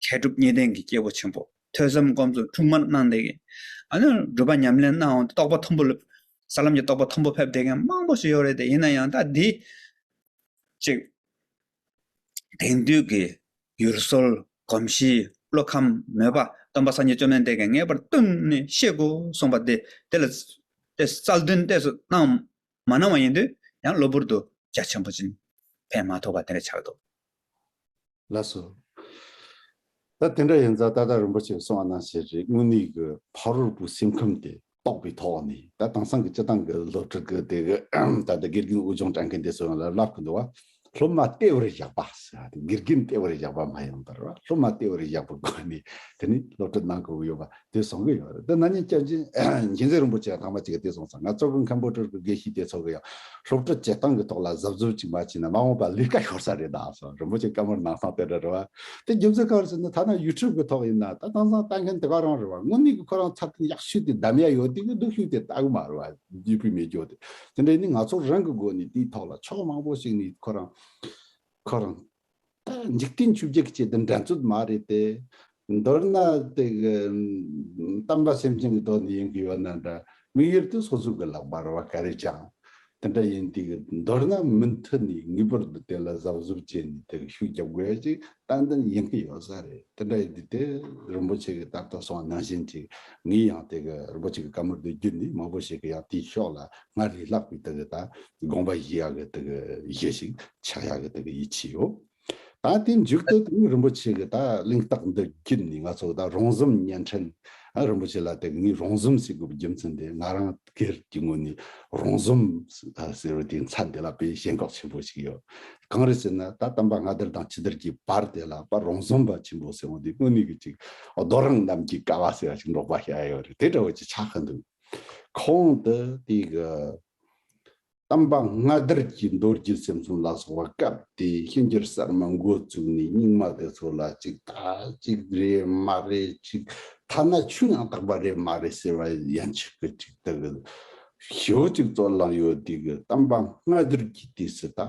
མཁས་གྲུབ་གཉིས་ལྡན་གྱི་སྐྱེས་བུ་ཆེན་པོ་ཐོས་བསམ་སྒོམ་ཚུལ་འཁྲུངས་མར་སྣང་འདས་ཀྱི། སྒྲུབ་པ་ཉམས་ལེན་གནང་འོག་ཏུ་རྟོགས་པ་མཐོན་པོ་ལ། ས་ལམ་གྱི་རྟོགས་པ་མཐོན་པོ་ཕེབས་བསྡད་མཁན་མང་པོ་ཞིག་ཡོད་རེད་དེ་ཡིན་ན་ཡང་ད་འདི། གཅིག། དེང་དུས་ཀྱི་ཡུལ་སྲོལ་གོམས་གཤིས་བློ་ཁམས་མོས་པ་སྟོན་པ་སངས་རྒྱས་བཅོས་མའི་འདས་ཀྱི་ངེས་པར་བསྟུན་ནས་ཤེས་དགོས་གསུངས་པ་དེ་དེ་ལ། རྩལ་འདོན་ལྟས་སུ་སྣང། མ་གནང་བ་ཡིན་དུས་ཡང་གློ་བུར་དུ་རྒྱ་ཆེན་པོ་སྦྱིན་ཕན་མ་ཐོབ་པ་དེ་འདྲ་ཆགས་འདུག། ལགས་སོ། ད་དེ་འདྲ་ཡིན་ཙང་ད་ལྟ་རིན་པོ་ཆེས་གསུང་བ་ནང་བཞིན་རེད་དངོས་གནས་ཀྱི་ཕ་རོལ་པོའི་སེམས་ཁམས་དེ་རྟོགས་པའི་ཐོག་ནས་ད་དེང་སང་གི་སྤྱི་བཏང་གི་སློབ་ཕྲུག་གི་དེ་གི་ད་ལྟ་དགེ་རྒན་དབུལ་སྦྱོང་དྲ་མཁན་དེ་ཚོ་ཡོང་ལ་ལབ་ཀི་འདུག་བ། སློབ་མ་ལྟེ་བར་བཞག་པ། དགེ་རྒན་ལྟེ་བར་བཞག་པ་མ་ཡིན་པར་སློབ་མ་ལྟེ་བར་བཞག་པའི་སྒོ་ནས་དེ་ནི་སློབ་གྲྭ་གནང་དགོས་ཀྱི་ཡོད་པ་དེ་བཟང་གི་ཡོད་རེད་དེ་ན་ཉིན་སྐྱབས་རྗེ་མཁྱེན་བརྩེ་རིན་པོ་ཆེ་ལྷག་མ་ཅིག་གིས་དེ་གསུངས་སོང་ང་གཙོ་གི་མཁན་པོ་སྤྲུལ་སྐུ་དགེ་བཤེས་དེ་ཚོ་གི་ཡང་སློབ་གྲྭ་བྱེད་སྟངས་ཀྱི་ཐོག་ལ་གཟབ་གཟབ་ཅིག་མ་བྱས་ན་མ་འོངས་པར་ལས་ཀ་ཤོར་ས་རེད་ད་སོང་རིན་པོ་ཆེ་བཀའ་མོལ་གནང་སྟངས་དེ་འདྲ་རེད་བ། དེ་རྒྱུ་མཚན་གང་རེད་ཟེར་ན་ཐ་ན་ཡུ་ཐུབ་ཀྱི་ཐོག་ཡིན་ན་ད་དེང་སང་ལྟ་མཁན་དེ་ག་རང་རེད་བ་དངོས་གནས་ཀྱི་ཁོ་རང་ཚར་གནས་ཡག་ཤོས་དེ་བདམས་ཡ་ཡོད་དེ་གི་སྡུག་ཤོས་དེ་ལྟ་གི་མ་རེད་བ། རྒྱུས་སྤུས་མེད་ཀྱོ་དེ་དེ་འདྲས་ནི་ང་ཚོར་རང་གི་སྒོ་ནས་དེའི་ཐོག་ལ་ཕྱོགས་མང་པོ་ཞིག་ནས་ཁོ་རང། ཁོ་རང། འཇིག་རྟེན་ཆོས་བརྒྱད་ཀྱི་ཆེད་དུ་འགྲན་རྩོད་མ་རེད་དེ། མདོར་ན། གཏམ་འདྲ་སེམས་ཅན་གྱི་དོན་དུ་ཡིན་གྱི་ཡོད་ན་འདྲ། མིག་ཡོར་དུ་སོ་སོ་གི་ལག་པར་བ་ག་རེ་བཅངས། དེ་འདྲ་ཡིན་དུས་མདོར་ན་མུ་མཐུད་ནས་ངེས་པར་དུ་དེ་ལ་གཟབ་གཟབ་བྱས་ནས་དེར་ཤུགས་རྒྱབ་དགོས་ཤིང་ཏན་ཏན་ཡིན་གྱི་ཡོད་ས་རེད་དེ་འདྲ་ཡིན་དུས་དེ་རིན་པོ་ཆེ་གི་དར་ཐོག་སོང་ནང་བཞིན་ཅིག་ངའི་ཡང་དེ་གི་རིན་པོ་ཆེ་གི་བཀའ་མོལ་དུ་རྒྱུད་འདི་མང་པོ་ཞིག་གི་ཡང་དེའི་ཕྱོགས་ལ་སྔར་རིགས་ལྷག་པའི་དེ་གི་ད་དགོངས་པ་བཞེས་ཡག་གི་དེ་གི་བཞེས་ཤིག་ཆགས་ཡག་གི་དེ་གི་ཡིད་ཆེས་ཡོད། ད་དེ་མཇུག་ཏུ་དེ་གི་རིན་པོ་ཆེ་གི་ད་གླེང་རྟགས་འདི་རྒྱུད་ནས་ང་ཚོ་ད་རོང་ཟོམ་བརྙན་འཕྲིན་རིན་པོ་ཆེ་ལ་དེ་གི་ངའི་རོང་ཟོམ་ཞིག་གི་རྒྱུ་མཚན་དེ་ང་རང་སྒེར་གྱི་ངོས་ནས་རོང་ཟོམ་ཟེར་བའི་དེའི་མཚམས་དེ་ལ་དཔེ་ཞེན་འགོག་ཆེན་པོ་ཞིག་ཡོད། གང་རེད་ཟེར་ན་ད་གཏམ་པ་ང་དེར་དང་ཁྱི་དེར་གྱི་བར་དེ་ལ་པ་རོང་ཟོམ་པ་ཆེན་པོ་ཟེར་བ་འདི་དངོས་གནས་ཀྱི་ཅིག་རྡོ་རིང་གནམ་གྱི་ཀ་བ་ཟེར་བ་ཞིག་འབྲོག་པ་ཤ་ཡོད་རེད་དེ་འདྲ་བོ་ཅིག་ཆགས་ཀྱི་འདུག་གོང་དུ་དེ་གི། དམ་པ་སྔ་དར་གྱི་མདོ་རྒྱུད་སེམས་གསུམ་ལ་སོགས་པ་སྐབས་དེའི་གཤིན་རྗེར་གསར་མ་འགོ་བཙུགས་ནས་རྙིང་མ་དེ་ཚོ་ལ་ཅིག་ད་ཅིག་རེད་མ་རེད་ཅིག་ཐ་ན་ཆུ་ཡང་དག་པ་རེད་མ་རེད་ཟེར་བ་ཡན་ཆད་ཀྱི་ཅིག་དག་གི་ཞོ་ཅིག་ཙོག་ལངས་ཡོད་དུས་ཀྱི་དམ་པ་སྔ་དར་གྱི་དུས་སུ་ད་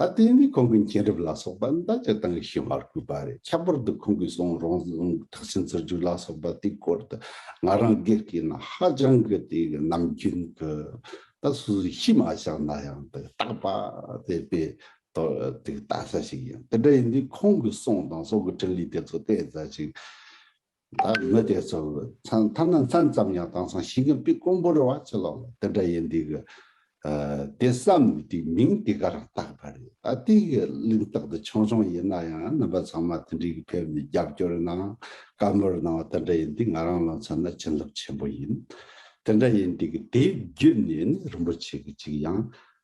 ད་ལྟའི་འདི་ཁོང་གི་མཁྱེན་རབ་ལ་སོགས་པ་འདི་དག་སྤྱིར་བཏང་གི་ཤེས་བར་གུས་པ་རེད་ཁྱད་པར་དུ་ཁོང་གིས་གསུང་རང་ཐག་ཆེན་རྩོད་རྒྱུགས་ལ་སོགས་པ་དེའི་སྐོར་དུ་ང་རང་དགེ་རྒན་ནི་ཧ་ཅང་གི་དེ་གི་ནམ་རྒྱུན་གི་ད་སུ་སུ་ཤི་མ་བཞག་ན་ཡང་དེ་རྟག་པ་དེ་པའི་ཐོག་དེ་ལྟ་ས་ཞིག་ཡིན་དེ་འདྲ་ཡིན་དུས་ཁོང་གི་གསུང་དང་སོགས་ཀྱི་ཕྲིན་ལས་དེ་ཚོ་བལྟས་ས་ཞིག་བདག་མི་དེ་ཚོར་མཚང་ཐ་ན་མཚན་ཙམ་ཡང་བཏང་སང་ཞིག་གི་པི་ཀོང་པོ་རི་བ་ཆུ་ལོག་ལ་དེ་འདྲ་ཡིན་འདུག་གི། དེ་བསམ་ནས་དེའི་མིང་དེ་གར་བཏགས་པ་རེད། ད་ལྟའི་གི་གླེང་རྟགས་འདི་ཆུང་ཆུང་ཡིན་ན་ཡང་རྣམ་པ་ཚང་མ་དེ་འདྲའི་གི་ཕེབས་ནས་རྒྱབ་སྐྱོར་གནང་བཀའ་མོལ་གནང་བ་དེ་འདྲ་ཡིན་འདུག་ང་རང་ལ་མཚོན་ན་བྱིན་རླབས་ཆེན་པོ་ཡིན། དེ་འདྲ་ཡིན་འདུག་གི་དེའི་བརྒྱུད་ནས་ནི་རིན་པོ་ཆེ་གི་ཅིག་ཡང་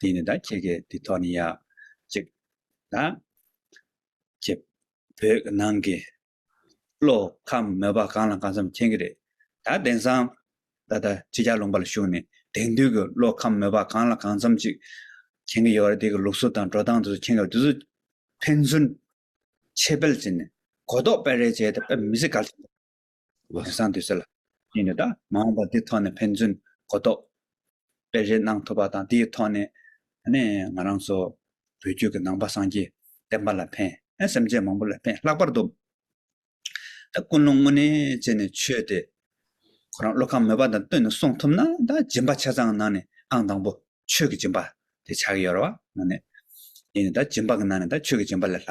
དེ་ནས་ད་ཁྱེད་ཀྱིས་དེ་ཐོག་ནས་ཡ། ཅིག། ད། ཁྱེད། བོད་ཀྱི་ནང་གི། བློ། ཁམས་མོས་པ་གང་ལ་གང་འཚམ་མཁྱེན་གྱི་རེད། ད་གདན་སའམ། ད་ད་ཁྱེད་ཅག་ལུང་པ་ལ་ཞུགས་ནས་དེང་དུས་ཀྱི་བློ་ཁམས་མོས་པ་གང་ལ་གང་འཚམ་ཅིག། མཁྱེན་གྱི་ཡོད་རེད་དེ་གི་ལུགས་སྲོལ་དང་འགྲོ་སྟངས་དེ་ཚོ་མཁྱེན་གྱི་རེད་དེ་ཚོ། ཕན་ཚུན། ཕྱེད་སྤེལ་བྱས་ནས། གོ་རྟོགས་སྤེལ་རེས་བྱས་ཏེ་སྤེལ་མི་སྲིད་ག་ལ་ཆོག། བ་དེ་སངས་དུས་ཟེར་ལ། ཡིན་ནི་དང་མ་འོངས་པ་དེ་ཐོག་ནས་ཕན་ཚུན་གོ་རྟོགས་སྤེལ་རེས་གནང་ཐུབ་པ་དང་དེའི་ཐོག་ནས་ནས་ང་རང་ཚོ་བོད་རྒྱུད་ཀྱི་ནང་པ་སངས་རྒྱས་བསྟན་པ་ལ་ཕན། སེམས་ཅན་མང་པོ་ལ་ཕན་ལྷག་པར་དུ་ད་ཀུན་སློང་དངོས་གནས་བྱས་ནས་ཆོས་དེ་ཁོ་རང་བློ་ཁམས་མོས་པ་དང་བསྟུན་ནས་གསུང་ཐུབ་ན་ད་སྦྱིན་པ་ཆ་ཚང་ནང་ནས་ཨང་དང་པོ་ཆོས་ཀྱི་སྦྱིན་པ་དེ་ཆགས་ཀྱི་ཡོད་རེད་བ། ཡིན་ནི་དང་སྦྱིན་པ་གི་ནང་ནས་ད་ཆོས་ཀྱི་སྦྱིན་པ་ལས་ལྷག